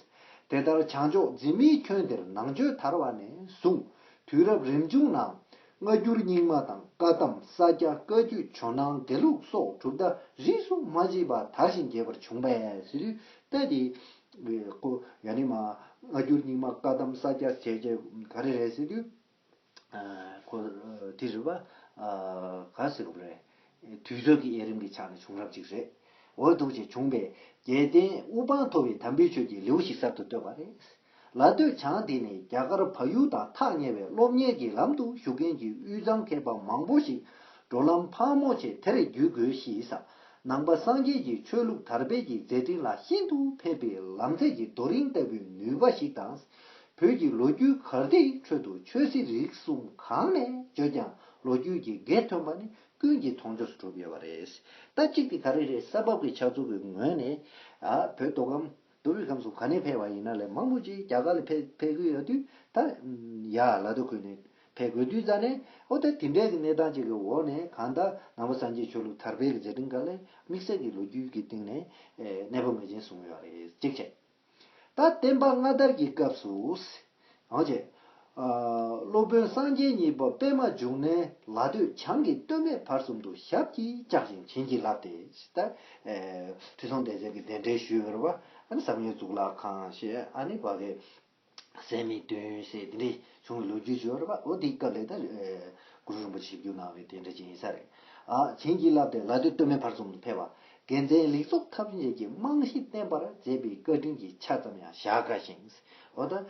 དེ་ལྟར་བྱང་ཕྱོགས་འཛིན་མའི་ཁྱོན་དེར་ནང་ཆོས་དར་བ་ནས་བཟུང་དུས་རབས་རིམ་བྱུང་ནང་སྔ་འགྱུར་རྙིང་མ་དང་བཀའ་གདམས་ས་སྐྱ་བཀའ་རྒྱུད་ཇོ་ནང་དགེ་ལུགས་སོགས་གྲུབ་མཐའ་རིས་སུ་མ་མཆིས་པ་དར་ཞིང་རྒྱས་པར་བྱུང་བས། བའི་སྐུ། ཡོན་ནི་མ། སྔ་འགྱུར་རྙིང་མ་བཀའ་གདམས་ས་སྐྱ་བྱེད་ཅེས་ག་རེ་རེད་ཟེར་དུས། ཁོ། དེ་རི་བ། ག་ཟེར་རོ་རེད། དུས་ཚོད་ཀྱི་དབྱེ་རིམ་གྱི་ཆ་ནས་བྱུང་རབས་ཅིག་རེད། འོ་ཐུགས་རྗེ་ཆུང་པས། རྒྱལ་བསྟན་དབུ་འཕང་མཐོ་བའི་དམ་འབུལ་ཆོས་ཀྱི་ལེའུ་ཞིག་གསར་དུ་བཏོད་པ་རེད། ལ་སྟོད་བྱང་དེ་ནས་རྒྱ་གར་བལ་ཡུལ་དང་ཐག་ཉེ་བའི་སློབ་གཉེར་གྱི་ལམ་དུ་ཞུགས་མཁན་གྱི་དབུས་གཙང་མཁས་པ་མང་པོ་ཞིག་འགྲོ་ལམ་ཕག་མོ་ཆེ་དེར་བརྒྱུད་དགོས་ཞེས་ས་ནང་པ་སངས་རྒྱས་ཀྱི་ཆོས་ལུགས་དར་སྤེལ་གྱི་མཛད་འཕྲིན་ལ་ཤིན་ཏུ་ཕན་པའི་ལམ་ཚད་ཀྱི་རྡོ་རིང་ལྟ་བུའི་ནུས་པ་ཞིག་དང། བོད་ཀྱི་ལོ་རྒྱུས་གར་སྟེགས་ཁྲོད་དུ་ཆོས་སྲིད་རིག་གསུམ་གང་ནས་བརྗོད་ཀྱང་ལོ་རྒྱུས་ཀྱི་དགེ་ཐོན་པ་ནི་ཀུན་གྱི་མཐོང་ཆོས་སུ་གྲུབ་ཡོད་པ་རེད། ད་གཅིག་དེ་ག་རེ་རེད་ས་བབ་ཀྱི་ཆགས་ཚུལ་གྱི་ངོས་ནས། བོད་མདོ་ཁམས། རྡོ་རུས་ཁམས་སུ་ག་ནས་འཕེལ་བ་ཡིན་ན་ལས་མང་པོ་ཅིག་རྒྱ་གར་ལ་འཕེལ་དགོས་ཡོད་དུས་ད་ཡ་ལ་རྡོ་ཁུལ་ནས་འཕེལ་དགོས་དུས་རྩ་ནས་ཨོ་ད་དེ་འདྲའི་གི་གནས་སྟངས་ཅིག་གི་འོག་ནས་གང་ལྟར་ནང་པ་སངས་རྒྱས་ཆོས་ལུགས་དར་འཕེལ་གི་མཛད་འཕྲིན་འགའ་ལས་དམིགས་བསལ་གི་ལོ་རྒྱུས་ཀྱི་སྟེང་ནས་གནས་སྤོ་ངེས་ཅན་བཟུང་ཡོད་རེད་གཅིག་བྱས། ད་བསྟན་པ་སྔ་དར་གྱི་སྐབས་སུ། རང་བྱས། སློབ་དཔོན་སངས་རྒྱས་གཉིས་པ་པད་མ་འབྱུང་གནས་ལ་ཐོད་ཆང་གིས་སྟོད་སྨད་བར་གསུམ་དུ་ཞབས་ཀྱིས་བཅགས་ཤིང་བྱིན་གྱིས་བརླབས་ཏེ། ཁྲི་སྲོང་ལྡེ་བཙན་གྱིས་གདན་འདྲེན་ཞུས་པར་བཟང་ངན་གཙུག་ལག་ཁང་ཞེས་ནི་བག་གི་སད་མི་བཏུན་ཞེས་དེ་འདྲའི་བྱུང་བའི་ལོ་རྒྱུས་བྱུང་བར་འོ་དེའི་སྐབས་ལས་དང་གུ་རུ་རིན་པོ་ཆེ་ཞིབ་འཇུག་གནང་བའི་དེ་འདྲ་ཅན་ཡིན་ས་རེད། བྱིན་གྱིས་བརླབས་ཏེ་ལ་ཐོད་སྟོད་སྨད་བར་གསུམ་དུ་ཕེབས་པ། དགེ་མཚན་ལེགས་ཚོགས་ཐམས་ཅད་ཀྱི་རྨང་གཞི་བརྟན་པར་མཛད་པའི་བཀའ་དྲིན་གྱི་ཆ་ཙམ་ཡང་བཞག་དཀའ་ཞིང། འོ་ད།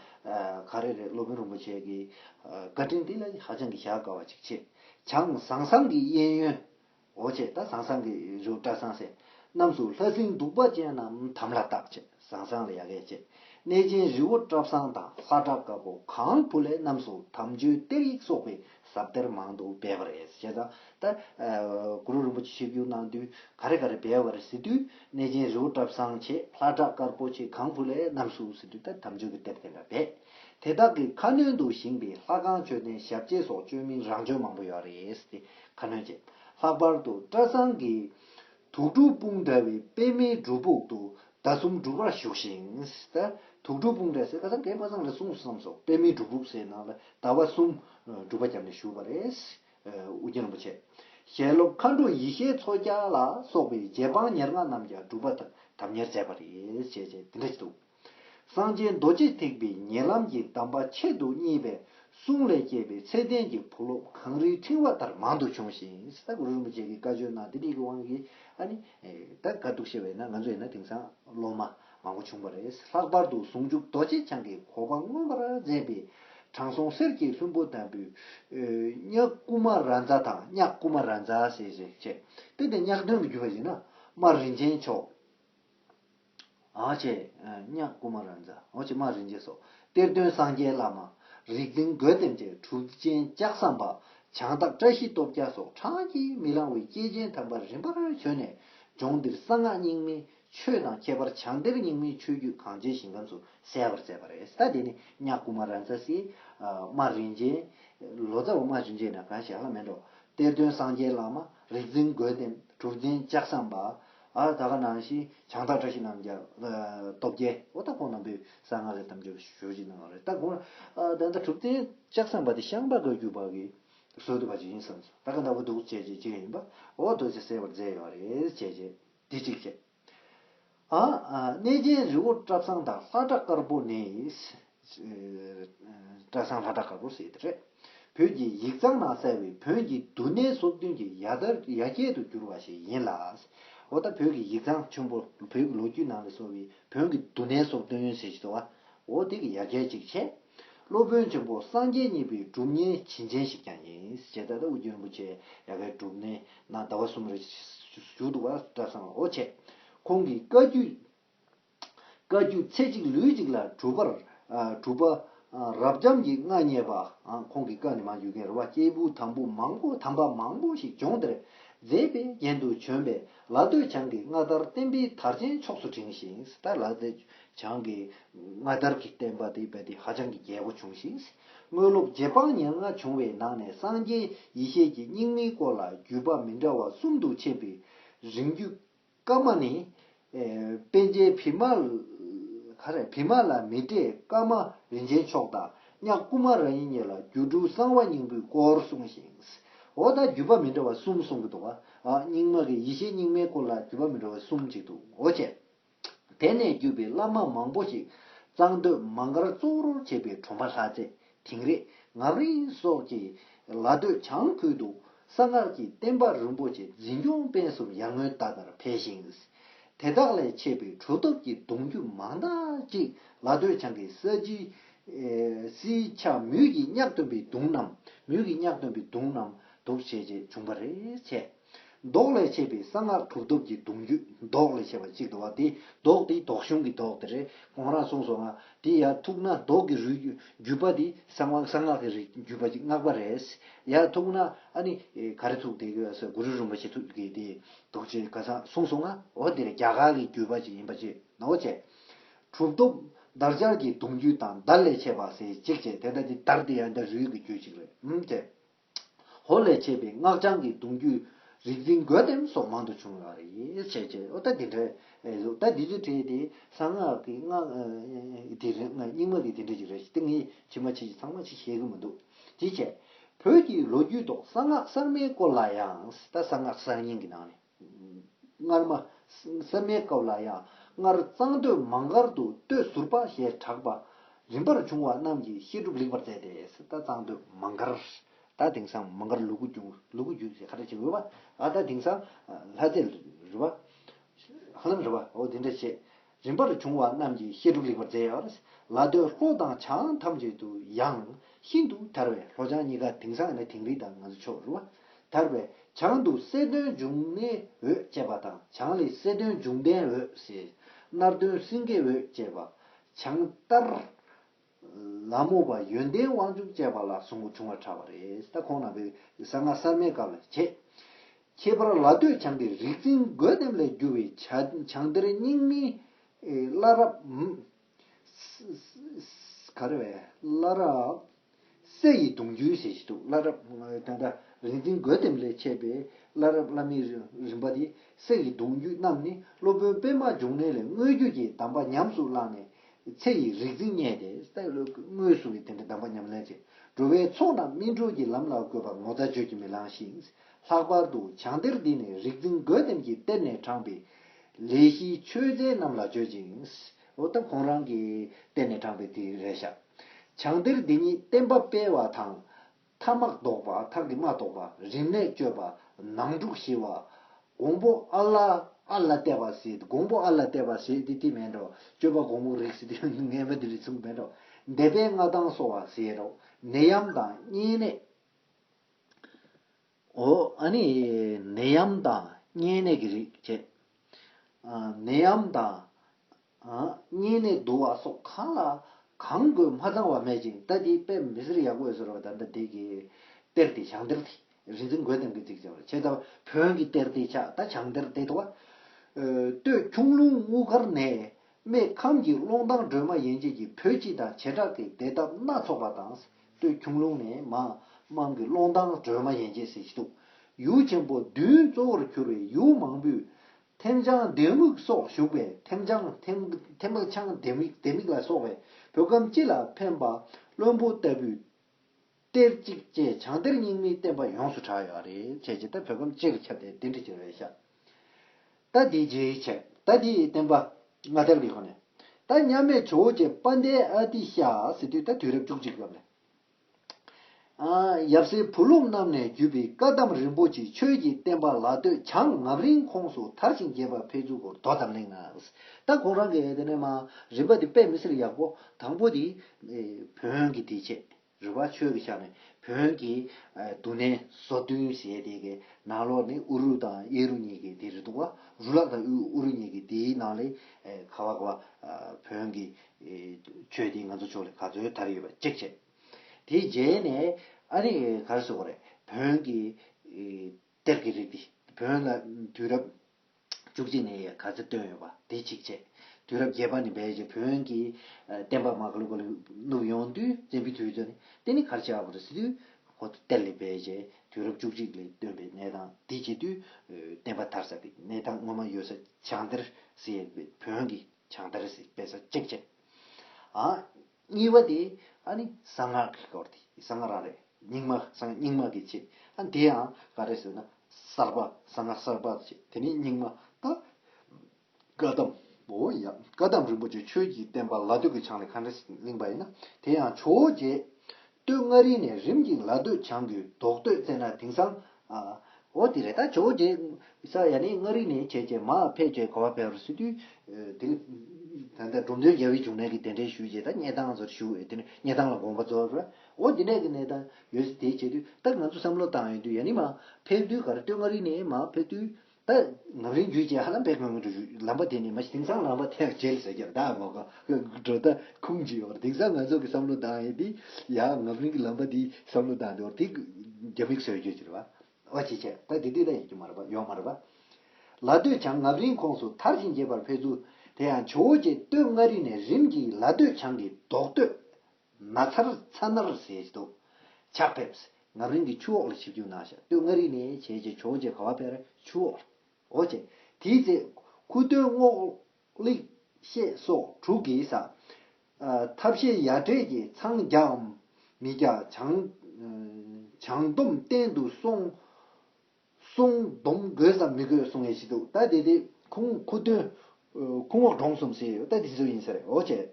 ག་རེ་རེད་སློབ་དཔོན་རིན་པོ་ཆེ་གི། བཀའ་དྲིན་འདི་ལ་ཧ་ཅང་གི་བཞག་དཀའ་བ་ཅིག་ཆེ། བྱང་བཟང་བཟང་གི་གཡས་གཡོན། འོ་ཆེ་ད་བཟང་བཟང་གི་རེའུ་བཀྲ་བཟང་སེ། རྣམས་སུ་ལྷ་སྲིན་གདུག་པ་ཅན་རྣམས་དམ་ལྷ་བཏགས་ཆེ་བཟང་བཟང་ལ་ཡ་གས་ཆེ། གནས་ཆེན་རི་བོ་བཀྲ་བཟང་དང་ས་བཀྲ་དཀར་པོ་གང་བུ་ལས་རྣམས་སུ་དམ་ཆོས་གཏེར་ཡིག་སོགས་པའི་ཟབ་གཏེར་མང་དུ་སྦས་པ་རེད་ཟེར་བྱས་ཙང། ད་གུ་རུ་རིན་པོ་ཆེ་ཆིབས་བསྒྱུར་གནང་དུས་ག་རེ་ག་རེ་སྦས་བར་ཟེར་དུས་གནས་ཆེན་རི་བོ་བཀྲ་བཟང་ཆེ་ལྷ་བྲག་དཀར་པོ་ཆེ་གངས་ཕུ་ལས་རྣམས་སུ་ཟེར་དུས་ད་དམ་ཆོས་ཀྱི་གཏེར་དེ་འདྲ་སྦས། དེ་དག་གི་ཁ་སྣོན་དུ་བཞེངས་པའི་ལྷ་ཁང་མཆོད་རྟེན་ཞབས་རྗེས་སོགས་བཅོས་མིན་རང་བཅོས་མང་པོ་ཡོད་རེད་ཟེར་ཏེ་ཁ་སྣོན་བྱས། ལྷག་པར་དུ་བཀྲ་བཟང་གི་དུག་སྦྲུལ་དཔུང་འདྲ་བའི་པད་མའི་སྒྲུབ་ཕུག་ཏུ་ཟླ་གསུམ་སྒྲུབ་པར་བཞུགས་ཤིང། དུག་སྦྲུལ་དཔུང་འདྲ་ཟེར་ཁ་སང་གད་པ་ཚང་ལ་གསུངས་སོ་བསམ་སོང་པད་མའི་སྒྲུབ་ཕུག་སའི་ནང་ལ་ཟླ་བ་གསུམ་སྒྲུབ་པ་བརྒྱབ་ནས་བཞུགས་པ་རེད། ཨོ་རྒྱན་རིན་པོ་ཆེ། ཞལ་སློབ་མཁའ་འགྲོ་ཡེ་ཤེས་མཚོ་སྐྱ་ལ་སོགས་པའི་རྗེ་འབངས་ཉེར་ལྔ་རྣམས་ཀྱང་སྒྲུབ་པ་དང་དམ་གཉེར་མཛད་པ་རེད་ཅེས་དེ་འདྲ་བྱས་འདུག། སངས་རྒྱས་རྡོ་རྗེ་ཐེག་པའི་ཉེ་ལམ་གྱི་གདམས་པ་ཆེད་དུ་གཉིས་པའི་གསུང་ལས་སྐྱེས་པའི་ཚད་ལྡན་གྱི་བུ་སློབ་གངས་རིའི་ཕྲེང་བ་ལྟར་མང་དུ་བྱུང་ཞིང། གུ་རུ་རིན་པོ་ཆེ་གི་བཀའ་ཆོས་རྣམས་དེ་རིགས་ཀྱི་དབང་གིས་ཨ་ནི། ད་དགའ་སྡུག་ཤེས་པས་ན་ང་ཚོ་ཡིན་ན་དེང་སང་སློབ་མ་མང་པོ་བྱུང་བ་རེད། ལྷག་པར་དུ་ཟུང་འཇུག་རྡོ་རྗེ་འཆང་གི་གོ་འཕང་མངོན་པར་མཛད་པའི་དྲང་སྲོང་གསེར་གྱི་ལྷུན་པོ་དམ་བུ། གཉགས་སྐུ་མ་ར་མཛའ་དང་གཉགས་སྐུ་མ་ར་མཛའ་ཞེས་བྱ། དེ་ལྟའི་གཉགས་སྟོན་དུ་གྱུར་པ་ཡིན་ན་རྨ་རིན་ཆེན་མཆོག། ཨཱ་ཅེ། གཉགས་སྐུ་མ་ར་འཛ། ཨཱ་ཅེ་མ་རིན་ཆེན་སོགས་གཏེར་སྟོན་སངས་རྒྱས་བླ་མ། རིག་འཛིན་རྒོད་ལྡེམ་བཅས་གྲུབ་ཆེན་ལྕགས་ཟམ་པ། བྱང་བདག་བཀྲ་ཤིས་སྟོབས་རྒྱལ་སོགས་གྲངས་ཀྱིས་མི་ལང་བའི་སྐྱེས་ཆེན་དམ་པ་རིམ་པར་བྱོན་ནས་ལྗོངས་འདིར་གསང་སྔགས་རྙིང་མའི་ཆོས་དང་ཁྱད་པར་བྱང་གཏེར་རྙིང་མའི་ཆོས་བརྒྱུད་གངས་ཅན་ཞིང་ཁམས་སུ་གསལ་བར་མཛད་པ་རེད། ད་དེ་ནི་གཉགས་སྐུ་མ་ར་འཛ། སི། མ་རིན་ཆེན། ལོ་ཙཱ་བ་མ་རིན་ཆེན་ནི་གང་ཞིག་ཧ་ལམ་མི་འགྲོ། གཏེར་སྟོན་སངས་རྒྱས་བླ་མ། རིག་འཛིན་རྒོད་ལྡེམ། གྲུབ་ཆེན་ལྕགས་ཟམ་པ། ཨཱ་ད་ག་ནང་བཞིན་བྱང་བདག་བཀྲ་ཤིས་རྣམས་ཀྱང། སྟོབས་རྒྱལ་ཨོ་ད་ཕོ་རྣམས་པོས་གསང་སྔགས་ལས་དམ་ཆོས་ཞུ་བཞིན་གནང་བ་རེད་ད་གོང་ཨཱ་ད་ད་གྲུབ་བསྟན་ལྕགས་ཟམ་པ་དེ་ཤངས་པ་གོས་གྱུ་པ་གི་ཟོལ་དུ་བ་ཅིག་ཡིན་བསམ་སོང་ད་ག་ཟླ་བོ་འདུག་བྱས་རྗེས་བྱེད་མཁན་ཡིན་པ་ཨོ་རྡོ་རྗེ་གསལ་བར་མཛད་ཡོད་རེད་བྱས་རྗེས་འདི་གཅིག་བྱས། ཨཱ་ཨཱ་གནས་རྒྱལ་རི་བོ་བཀྲ་བཟང་དང་ལྷ་བྲག་དཀར་པོ་ནི། བཀྲ་བཟང་ལྷ་བྲག་དཀར་པོ་ཟེར་དེ་རེད། བོད་ཀྱི་ཡིག་ཚང་ནང་གསལ་བའི་བོན་གྱི་འདུ་གནས་སོ་བདུན་གྱི་ཡ་གྱལ་དུ་གྱུར་བ་ཞིག་ཡིན་ལ། འོ་ད་བོད་ཀྱི་ཡིག་ཚང་ཆུང་པོ་བོད་ཀྱི་ལོ་རྒྱུས་ནང་ལས་སོ་བའི་བོན་གྱི་འདུ་གནས་སོ་བདུན་ཟེར་གྱི་འདུག་བ། འོ་དེ་གི་ཡ་གྱལ་ཅིག་བྱས། སློབ་དཔོན་ཆེན་པོ་སངས་རྒྱས་གཉིས་པའི་སྒྲུབ་གཉེར་བྱིན་ཅན་ཞིག་ཀྱང་ཡིན། བྱས་ད་ད་དབུ་རྒྱན་རིན་པོ་ཆེ་ཡ་གྱལ་སྒྲུབ་གནས་ནང་ཟླ་བ་གསུམ་རེ་བཞུགས་འདུག་བ་བཀྲ་བཟང་འོ་བྱས། ཁོང་གི་བཀའ་བརྒྱུད། བཀའ་བརྒྱུད་ཚེ་གཅིག་ལུས་གཅིག་ལ་གྲུབ་པར་གྲུབ། རབ་འབྱམས་ཀྱི་མངའ་བརྙེས་པ། ཁོང་གི་བཀའ་ནི་མ་འགྱུར་མཁན་རུ་བ་སྐྱེས་བུ་དམ་བུ་མང་པོ་དམ་པ་མང་པོ་ཞིག་ལྗོངས་འདིར་མཛེས་པའི་རྒྱན་དུ་བྱོན་པས་ལ་སྟོད་བྱང་གི་མངའ་བདར་བསྟན་པའི་དར་ཆེན་ཕྱོགས་སུ་བསྒྲེངས་ཤིང་ད་ལ་སྟོད་བྱང་གི་མངའ་བདར་གྱི་བསྟན་པ་དེ་རྦད་དེ་ཧ་ཅང་གི་རྒྱས་པོ་བྱུང་ཞིང་དངོས་སློབ་རྗེ་འབངས་ཉེར་ལྔ་བྱུང་བའི་ནང་ནས་སངས་རྒྱས་ཡེ་ཤེས་ཀྱི་སྙིང་མའི་སྐོར་ལ་བརྒྱུད་པ་མི་འདྲ་བ་གསུམ་དུ་ཕྱེས་པའི་རིང་བརྒྱུད་སྐར་མ་ནི། དཔལ་ཆེན་བི་མ། ག་རེ། བི་མ་ལ་མི་ཏྲས་སྐར་མ་རིན་ཆེན་མཆོག་དང་གཉགས་སྐུ་མ་ར་ཡིན་གཉིས་ལ་རྒྱུ་དྲུག་གསང་བ་སྙིང་པོའི་སྐོར་གསུངས་ཤིང། འོ་ད་བརྒྱུད་པ་མི་འདྲ་བ་གསུམ་གསུང་གི་འདུག་བ། རྙིང་མ་གི་ཡེ་ཤེས་རྙིང་མའི་སྐོར་ལ་བརྒྱུད་པ་མི་འདྲ་བ་གསུམ་གཅིག་འདུག་འོ་བྱས། དེ་ནས་བརྒྱུད་པའི་བླ་མ་མང་པོ་ཞིག་གཙང་སྟོད་མ་མགར་གཙུག་རོར་བྱས་པའི་གྲོང་པ་ལྷ་རྩེ་དིང་རི། ངག་རིང་སོགས་ཀྱིས་ལ་སྟོད་བྱང་ཁུལ་དུ་གསང་སྔགས་ཀྱི་བསྟན་པ་རིན་པོ་ཆེ་འཛིན་སྐྱོང་སྤེལ་གསུམ་ཡར་ངོའི་ཟླ་ལྟར་འཕེལ་ཞིང། དེ་དག་ལས་མཆེད་པའི་གྲུབ་ཐོབ་ཀྱི་གདུང་རྒྱུད་མང་དག་ཅིག་ལ་སྟོད་བྱང་གི་ས་བྱིའུསིའི་ཆ་མུས་ཀྱིས་བསྙགས་སྟོན་པའི་གདུང་རྣམས་མུས་ཀྱིས་བསྙགས་སྟོན་པའི་གདུང་རྣམས་དུ་བྱས་རྗེས་འབྱུང་བར་བྱས། ལྡོག་ལས་བྱས་པའི་གསང་སྔགས་གྲུབ་ཐོབ་ཀྱི་གདུང་རྒྱུད་ལྡོག་ལས་བྱས་པ་གཅིག་ཏུ་བ་དེ་ལྡོག་དེ་ལྡོག་གཞུང་གི་ལྡོག་དེ་རེད་གོང་རང་གསུངས་སོང་ང་དེ་ཡ་ཐུག་ན་ལྡོག་གི་རུས་བརྒྱུད་པ་དེ་གསང་བ་གསང་སྔགས་ཀྱི་རིགས་བརྒྱུད་པ་ཅིག་མངགས་པ་རེད་ཡ་ཐུག་ན་ཨ་ནི་ག་རེ་ཐུག་དེ་གི་སེ་གུ་རུ་རིན་པོ་ཆེ་ཐུག་གི་དེ་འདུག་ཅེས་ག་ས་གསུངས་སོང་ང་འོ་དེ་རེད་རྒྱ་གར་གྱི་བརྒྱུད་པ་ཅིག་ཡིན་པ་ཅེས་ན་འོ་བྱས། གྲུབ་ཐོབ་འདར་སྦྱར་གྱི་གདུང་རྒྱུད་དང་འདར་ལས་བྱས་པ་ཟེ་གཅིག་བྱས་དེ་འདྲ་དེ་འདར་དེ་ཡ་འདྲ་རུས་ཀྱི་རྒྱུད་ཅིག་རེད་འམ་བྱས། ཧོར་ལས་མཆེད་པའི་སྔགས་འཆང་གི་གདུང་བརྒྱུད། རིག་འཛིན་རྒོད་ལྡེམ་སོགས་མང་དུ་བྱུང་བ་རེད། བྱས་བྱས་ཨོ་ད་དེ་འདྲའི་གཟུགས་ད་འདི་ཚོ་བྲིས་ཏེ་གསང་སྔགས་ཀྱི་སྔགས་དེ་རེད་ང་རྙིང་མ་གི་དེ་འདྲ་ཞིག་རེད་ཏེ་ངས་ཕྱི་མ་ཕྱི་ཞིག་ཚང་མ་ཞིག་བཤད་གི་མི་འདུག་དེ་བྱས། བོད་ཀྱི་ལོ་རྒྱུས་ཐོག་གསང་སྔགས་གསར་མའི་སྐོར་ལ་ཡང་ད་གསང་སྔགས་གསར་རྙིང་གི་ནང་ནས། སྔར་མ། སེར་སྨད་སྐབས་ལ་ཡང་སྔར་གཙང་སྟོད་མང་སྒར་དུ་སྟོད་ཟུར་པ་ཞེས་གྲགས་པ། རིམ་པར་བྱུང་བ་རྣམས་ཀྱིས་བཤད་སྒྲུབ་ལེགས་པར་མཛད་དེ་ད་གཙང་སྟོད་མང་སྒར། ད་དེང་སང་མང་སྒར་ལུ་གུ་རྒྱུད་ལུ་གུ་རྒྱུད་ཅེས་ཁ་བརྡ་བྱེད་འོས་པ། ད་དེང་སང་ལྷ་རྩེ་རི་བ། ཧ་ལམ་རི་བ་འོ་དེ་འདྲ་བྱེད། རིམ་པར་བྱུང་བ་རྣམས་ཀྱི་བཤད་སྒྲུབ་ལེགས་པར་མཛད། ལ་སྟོད་ལྷོ་དང་བྱང་ཨང་ཐམས་ཅད་དུ་ཡང་ཤིན་ཏུ་དར་བས་ལྷོ་བྱང་གཉིས་ཀ་དེང་སང་ནི་དིང་རི་དང་ང་ཚོའི་ཕྱོགས་རུ། དར་བས་བྱང་དུ་གསལ་སྟོན་འབྱུང་གནས་འོད་ཅེས་པ་དང་བྱང་ལས་གསལ་སྟོན་འབྱུང་ལྡན་འོད་ཟེར། སྣར་སྟོན་སེང་གེ་འོད་ཅེས་པ། བྱང་ལྟར། ལམ་མོ་པ་ཡོན་ཏན་དབང་ཕྱུག་བཅས་པ་ལ་ཟུག་རྔུ་ཆུང་བར་གྲགས་པ་རེད་ད་ཁོང་རྣམ་པའི་གསང་སྔགས་གསར་མའི་སྐབས་ལ་བྱེད། ཁྱད་པར་ལ་སྟོད་བྱང་གི་རིག་འཛིན་རྒོད་ལྡེམ་ལས་བསྒྱུར་བའི་བྱང་གཏེར་རྙིང་མིན། བླ་རབས། སྲས་ཡི་གདུང་རྒྱུད་ཟེར་ཞིག་འདུག་བླ་རབས། དེ་འདྲ་རིག་འཛིན་རྒོད་ལྡེམ་ལས་མཆེད་པའི་བླ་རབས་བླ་མའི་རིམ་པ་དེ་སྲས་ཡི་གདུང་རྒྱུད་རྣམས་ནི་སློབ་དཔོན་པདྨ་འབྱུང་གནས་ལས་དངོས་བརྒྱུད་ཀྱི་གདམས་པ་ཉམས་སུ་བླངས་ནས་ཚེ་ཡི་རིག་འཛིན་བརྙེས་ཏེ། སྔོན་སོང་གི་དེ་འདྲའི་གདམས་པ་ཉམས་ལེན་བྱེད། འགྲོ་བའི་ཚོགས་རྣམས་སྨིན་གྲོལ་གྱི་ལམ་ལ་བཀོད་པ་ངོ་ཚ་བརྗོད་ཀྱིས་མི་ལང་ཞིང། ལྷག་པར་དུ་བྱང་གཏེར་འདི་ནི་རིག་འཛིན་རྒོད་ལྡེམ་གྱིས་གཏེར་ནས་དྲངས་པའི། ལས་བཞིའི་ཆོས་ཚན་རྣམས་ལ་བརྗོད་ཅིང། འོ་ད་ཁོང་རང་གིས་གཏེར་ནས་དྲངས་པའི་དེ་རེ་བཞག། བྱང་གཏེར་འདི་ཉིད་བསྟན་པ་སྤེལ་བ་དང། ཐ་མག་བཟློག་པ་ཐག་གིས་མ་བཟློག་པ་རིམས་ནད་བཅོས་པ་ནང་དཀྲུགས་ཞི་བ། འགོང་པོ་ཨ་ལ་ཨ་ལ་བལྟས་པ་ཟེ་འགོང་པོ་ཨ་ལ་བལྟས་པ་ཟེ་དེ་དེ་མེད་འགྲོ་བཅོས་པ་འགོང་པོ་རིགས་ཟེ་དེ་ངན་པ་དེ་རིགས་ཚུགས་མེད་འགྲོ་འདེད་པའི་མངའ་ཐང་གསོ་བ་ཟེ་རོ་ནད་ཡམས་དང་གཉན་ནད། འོ་ཨ་ནི་ནད་ཡམས་དང་གཉན་ནད་ཀྱི་རིགས་བཅས། ནད་ཡམས་དང་གཉིས་ནས་བསྡུ་བ་སོགས་གང་ལ་གང་དགོས་མ་ཚང་བ་མེད་ཅིང་ལྟ་དེའི་དཔེ་མི་སེར་ཡག་པོ་ཡོད་ཟེར་བ་ད་ལྟ་དེ་གའི་གཏེར་དེ་བྱང་གཏེར་དེ་རིག་འཛིན་རྒོད་ལྡེམ་གྱིས་བརྩིགས་བྱས་པ་ཆེ་ད་བོན་གྱི་གཏེར་དེ་ཆགས་ད་བྱང་གཏེར་དེ་དོ། སྟོད་ཁྱུང་ལུང་དབུ་དཀར་ནས་རྨེ་ཁམས་ཀྱི་ཀློང་ཐང་སྒྲོལ་མ་ཡན་ཆད་ཀྱི་བོད་སྤྱི་དང་བྱེ་བྲག་གི་སྡེ་འདབས་སྣ་ཚོགས་པ་དང། སྟོད་ཁྱུང་ལུང་ནས་མ་འམ་གྱི་ཀློང་ཐང་སྒྲོལ་མ་ཡན་ཆད་སྲིད་ཞི་དུག་ཡུལ་ཆེན་པོ་བདུན་གཙོ་བོར་གྱུར་བའི་ཡུལ་མང་པོའི་ཐེམ་བྱང་ལྡེ་མིག་སོགས་བཞུགས་པའི་ཐེམ་བྱང་ཐེམ་བྱང་ལྡེ་མིག་ལ་སོགས་པའི་བོད་ཁམས་སྤྱི་ལ་ཕན་པ་བློན་པོ་ལྟ་བུའི་གཏེར་གཅིག་ཅེས་བྱང་གཏེར་རྙིང་མའི་བསྟན་པ་ཡོངས་སུ་གྲགས་ཡོད་རེད་བྱས་ཀྱི་ད་བོད་ཁམས་སྤྱི་ལ་ཁྱབ་སྟེ་བདེན་ཁྲི་ཅན་རེད་བྱ། ད་དེའི་རྗེས་བྱས་ད་དེའི་བསྟན་པ་སྔ་དར་གྱི་ཁོ་ནས་ད་མཉམ་མེད་ཇོ་བོ་རྗེ་དཔལ་ལྡན་ཨ་ཏི་ཤ་ཟེར་དུས་ད་དུས་རབས་བཅུ་གཅིག་ཙམ་ལས། ཡབ་སྲས་བུ་སློབ་རྣམས་ནས་བརྒྱུད་པའི་བཀའ་གདམས་རིན་པོ་ཆེ་ཆོས་ཀྱི་བསྟན་པ་ལ་སྟོད་བྱང་ངམ་རིང་ཁོངས་སུ་དར་ཞིང་རྒྱས་པ་འཕེལ་འགྱུར་སྐོར་དོ་དམ་གླེང་ངག་ད་གོང་རང་གི་དེ་ནས་མ་རིན་པ་དེ་པད་མི་སེར་ཡག་པོ་དང་པོ་དེ་བོན་གྱི་དེ་ཆེད་རི་བ་ཆོས་ཀྱི་ཤག་ནས་བོན་གྱི་དུ་ནས་བཟོ་བསྟུན་བྱས་དེ་གི་ནང་ལོགས་ནས་ཨུ་རུ་དང་གཡས་རུ་གཉིས་ཀྱི་དེ་རི་དུ་བ་རུ་ལག་དང་ཨུ་རུ་གཉིས་ཀྱི་དེའི་ནང་ལས་ཁ་བ་བོན་གྱི། ཆོས་འདི་ང་ཚོ་ཕྱོགས་ལས་ག་ཚོད་དར་ཡོད་པ་ཅེག་བྱས། དེའི་རྗེས་ནས་ཨ་རིག་གར་སོང་བ་རེད། བོན་གྱི་གཏེར་གྱི་རིགས་འདི་བོན་ལ་དུས་རབས་བཅུ་གཅིག་ནས་ག་ཚོད་བཏོན་ཡོད་པ་དེ་ཅིག་བྱས། དུས་རབས་བརྒྱད་པ་ནས་བལ་གྱི་བོན་གྱི་བསྟན་པ་མ་ཀླུ་ཀ་ལུ་བསྣུབས་ཡོང་དུས་བཙན་པོའི་དུས་ཚོད་ནས་དེ་ནི་གར་བྱེད་ཨ་བ་རི་སི་ཏུའི་ཧོ་ཏུ་གཏེར་ལས་བལ་གྱི་དུས་རབས་བཅུ་གཅིག་ལས་བཏོན་པའི་གནས་སྟངས་དེ་བྱེད་དུས་བསྟན་པ་དར་ས་དེ་གནས་སྟངས་ངོ་མ་ཡོད་ས་བྱང་གཏེར་སེ་ཡ་བོན་གྱི། བྱང་དར་སིག་པའི་སོ་གཅིག་བྱེད། གཉིས་པ་དེ་གསང་སྔགས་ཀྱི་སྐོར་དེ་གསང་སྔགས་རང་རེད་རྙིང་མ་གསང་རྙིང་མ་གི་བྱེད། དེ་ཡང་ག་རེ་ཟེར་ན་གསར་པ་གསང་སྔགས་གསར་པ་བྱེད་དེ་ནས་རྙིང་མ་ད་བཀའ་གདམས་པོ་ཡ་བཀའ་གདམས་རིན་པོ་ཆེ་ཆོས་ཀྱི་བསྟན་པ་ལ་སྟོད་ཀྱི་ཆང་ལས་མཁའ་འགྲོའི་གླིང་པ་ཡིན་ན་དེ་ཡང་ཆོས་རྗེ་སྟོད་མངའ་རིས་ནས་རིམ་གྱིས་ལ་སྟོད་བྱང་གི་རྡོག་སྟོད་བཙལ་ན་དེང་སང། ཨོ་དེ་རེད་ད་ཇོ་བོ་རྗེ། ས་ཡ་ནི་མངའ་རིས་ནས་བྱས་རྗེས་མ་ཕལ་བཅས་གོ་བ་ཕལ་བར་སི་ཏུ། དེ་ལས། ད་ལྟ་འབྲོམ་སྟོན་རྒྱལ་བོའི་འབྱུང་གནས་ཀྱི་གདན་འདྲེན་ཞུས་རྗེས་ད་སྙེ་ཐང་སོར་ཞུགས་འོས་དེ་ནས་སྙེ་ཐང་ལ་དགོངས་པ་རྫོགས་པས། ཨོ་དེ་ནས་ཀྱི་གནས་ཐང་ཡོད་སྲིད་དེ་བྱས་དུས་ད་ང་ཚོ་བསམ་བློ་བཏང་ཡོད་དུས་ཡ་ནི་མ་ཕལ་དུས་གར་སྟོད་མངའ་རིས་ནས་མ་ཕལ་དུས། བདག་ནག་རིང་བརྒྱུད་ཅེས་ཧ་ལམ་དཔེ་དགོས་ངེས་འདུག་ལམ་པ་དེ་ནི་མ་གཞི་དེང་སང་ལམ་པ་ཐེག་མཆེད་ཟེར་རྒྱུར་བདག་ངོ་དགའ། འགྲོ་སྟངས་ཁུངས་ཅི་ཡོད་པར་དེང་སང་ང་ཚོ་གི་བསམ་བློ་བཏང་ཡོད་དེ། ཡང་ནག་རིང་གི་ལམ་པ་དེའི་བསམ་བློ་བཏང་འདུག་དེ་རྒྱ་མིག་ཟེར་རྒྱུ་ཅི་རེད་བ། ཨོ་ཅི་ཅི་ད་དེ་དུས་ན་ཡོད་རྒྱུ་མ་རེད་བ་ཡོད་མ་རེད་བ། ལ་སྟོད་བྱང་ནག་རིང་ཁོངས་སུ་མཐར་ཕྱིན་རྒྱས་པར་ཕེབས་ཚུལ་དེ་ཡང་ཇོ་བོ་རྗེ་སྟོད་མངའ་རིས་ནས་རིམ་གྱིས་ལ་སྟོད་བྱང་གི་རྡོག་སྟོད། ན་ཚར་ཚ་ནར་ཟེར་དུ་ཆགས་ཕེབས། ངམ་རིང་གི་ཆུ་འོག་ལ་ཆིབས་རྒྱུག་ནང་ཤ་སྟོད་མངར་རིས་ནས་བྱས་རྗེས་ཆོག་རྗེས་ག་བ་བེར་ཆུ་འོག་ལ་འོ་བྱས། དེའི་ཚེ། ཁུ་སྟོན་སྔོག། གླེགས། ཤད་སོགས་དྲུག་གི་ས། ཐབས་ཤེས་ཡ་བྲལ་གྱིས་འཚང་རྒྱའམ། མི་རྒྱ། བྱང། སྡོམ་བསྟན་དུ་སོང། སོང། སྡོམ་དགོས་སམ་མི་དགོས་གསུང་ངེས་ཤིག་འདུག་ད་དེ་དེ། ཁུ་སྟོན། ཁུ་འོག་འབྲོང་གསུམ་ཟེར་ཡོད་ད་དེ་ཚོ་ཡིན་ཟེར་འོ་བྱས།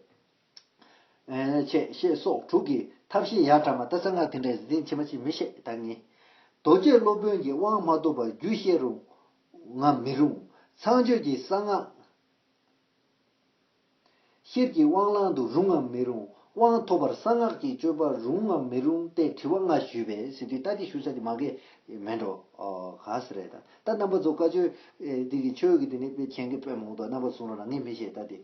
ཅེས་ཞེས་སོགས་དྲུག་གིས་ཐབས་ཤེས་ཡར་དྲངས་པ་ལྟར་གསང་སྔགས་དེ་འདྲའི་གཟི་བྱིན་ཆེན་པོ་གཅིག་མི་ཤེས་བདག་ཉིད། རྡོ་རྗེ་སློབ་དཔོན་གྱིས་དབང་མ་ཐོབ་པར་རྒྱུད་བཤད་རུང་ངམ་མི་རུང། ཚངས་སྤྱོད་ཀྱི་གསང་སྔགས། ཤེར་གྱི་དབང་བླང་དུ་རུང་ངམ་མི་རུང། དབང་ཐོབ་པར་གསང་སྔགས་ཀྱི་སྤྱོད་པ་རུང་ངམ་མི་རུང་སྟེ་དྲི་བ་ལྔ་ཞུས་པས་ཟིན་དུས་ལྟ་དེ་ཞུ་བྱ་དེ་མ་གལ་མེད་འགྲོ། ག་ས་རེད་ད། ད་རྣམ་པ་ཚོ་བཀའ་ཆོས། དེ་གི་ཆོས་ཀྱི་དེ་ནི་དཔེ་མཁྱེན་གི་དཔེ་མང་དོ་རྣམ་པ་ཚོ་གསུང་རོགས་ལ་ངས་མི་ཤེས་ད་དེ།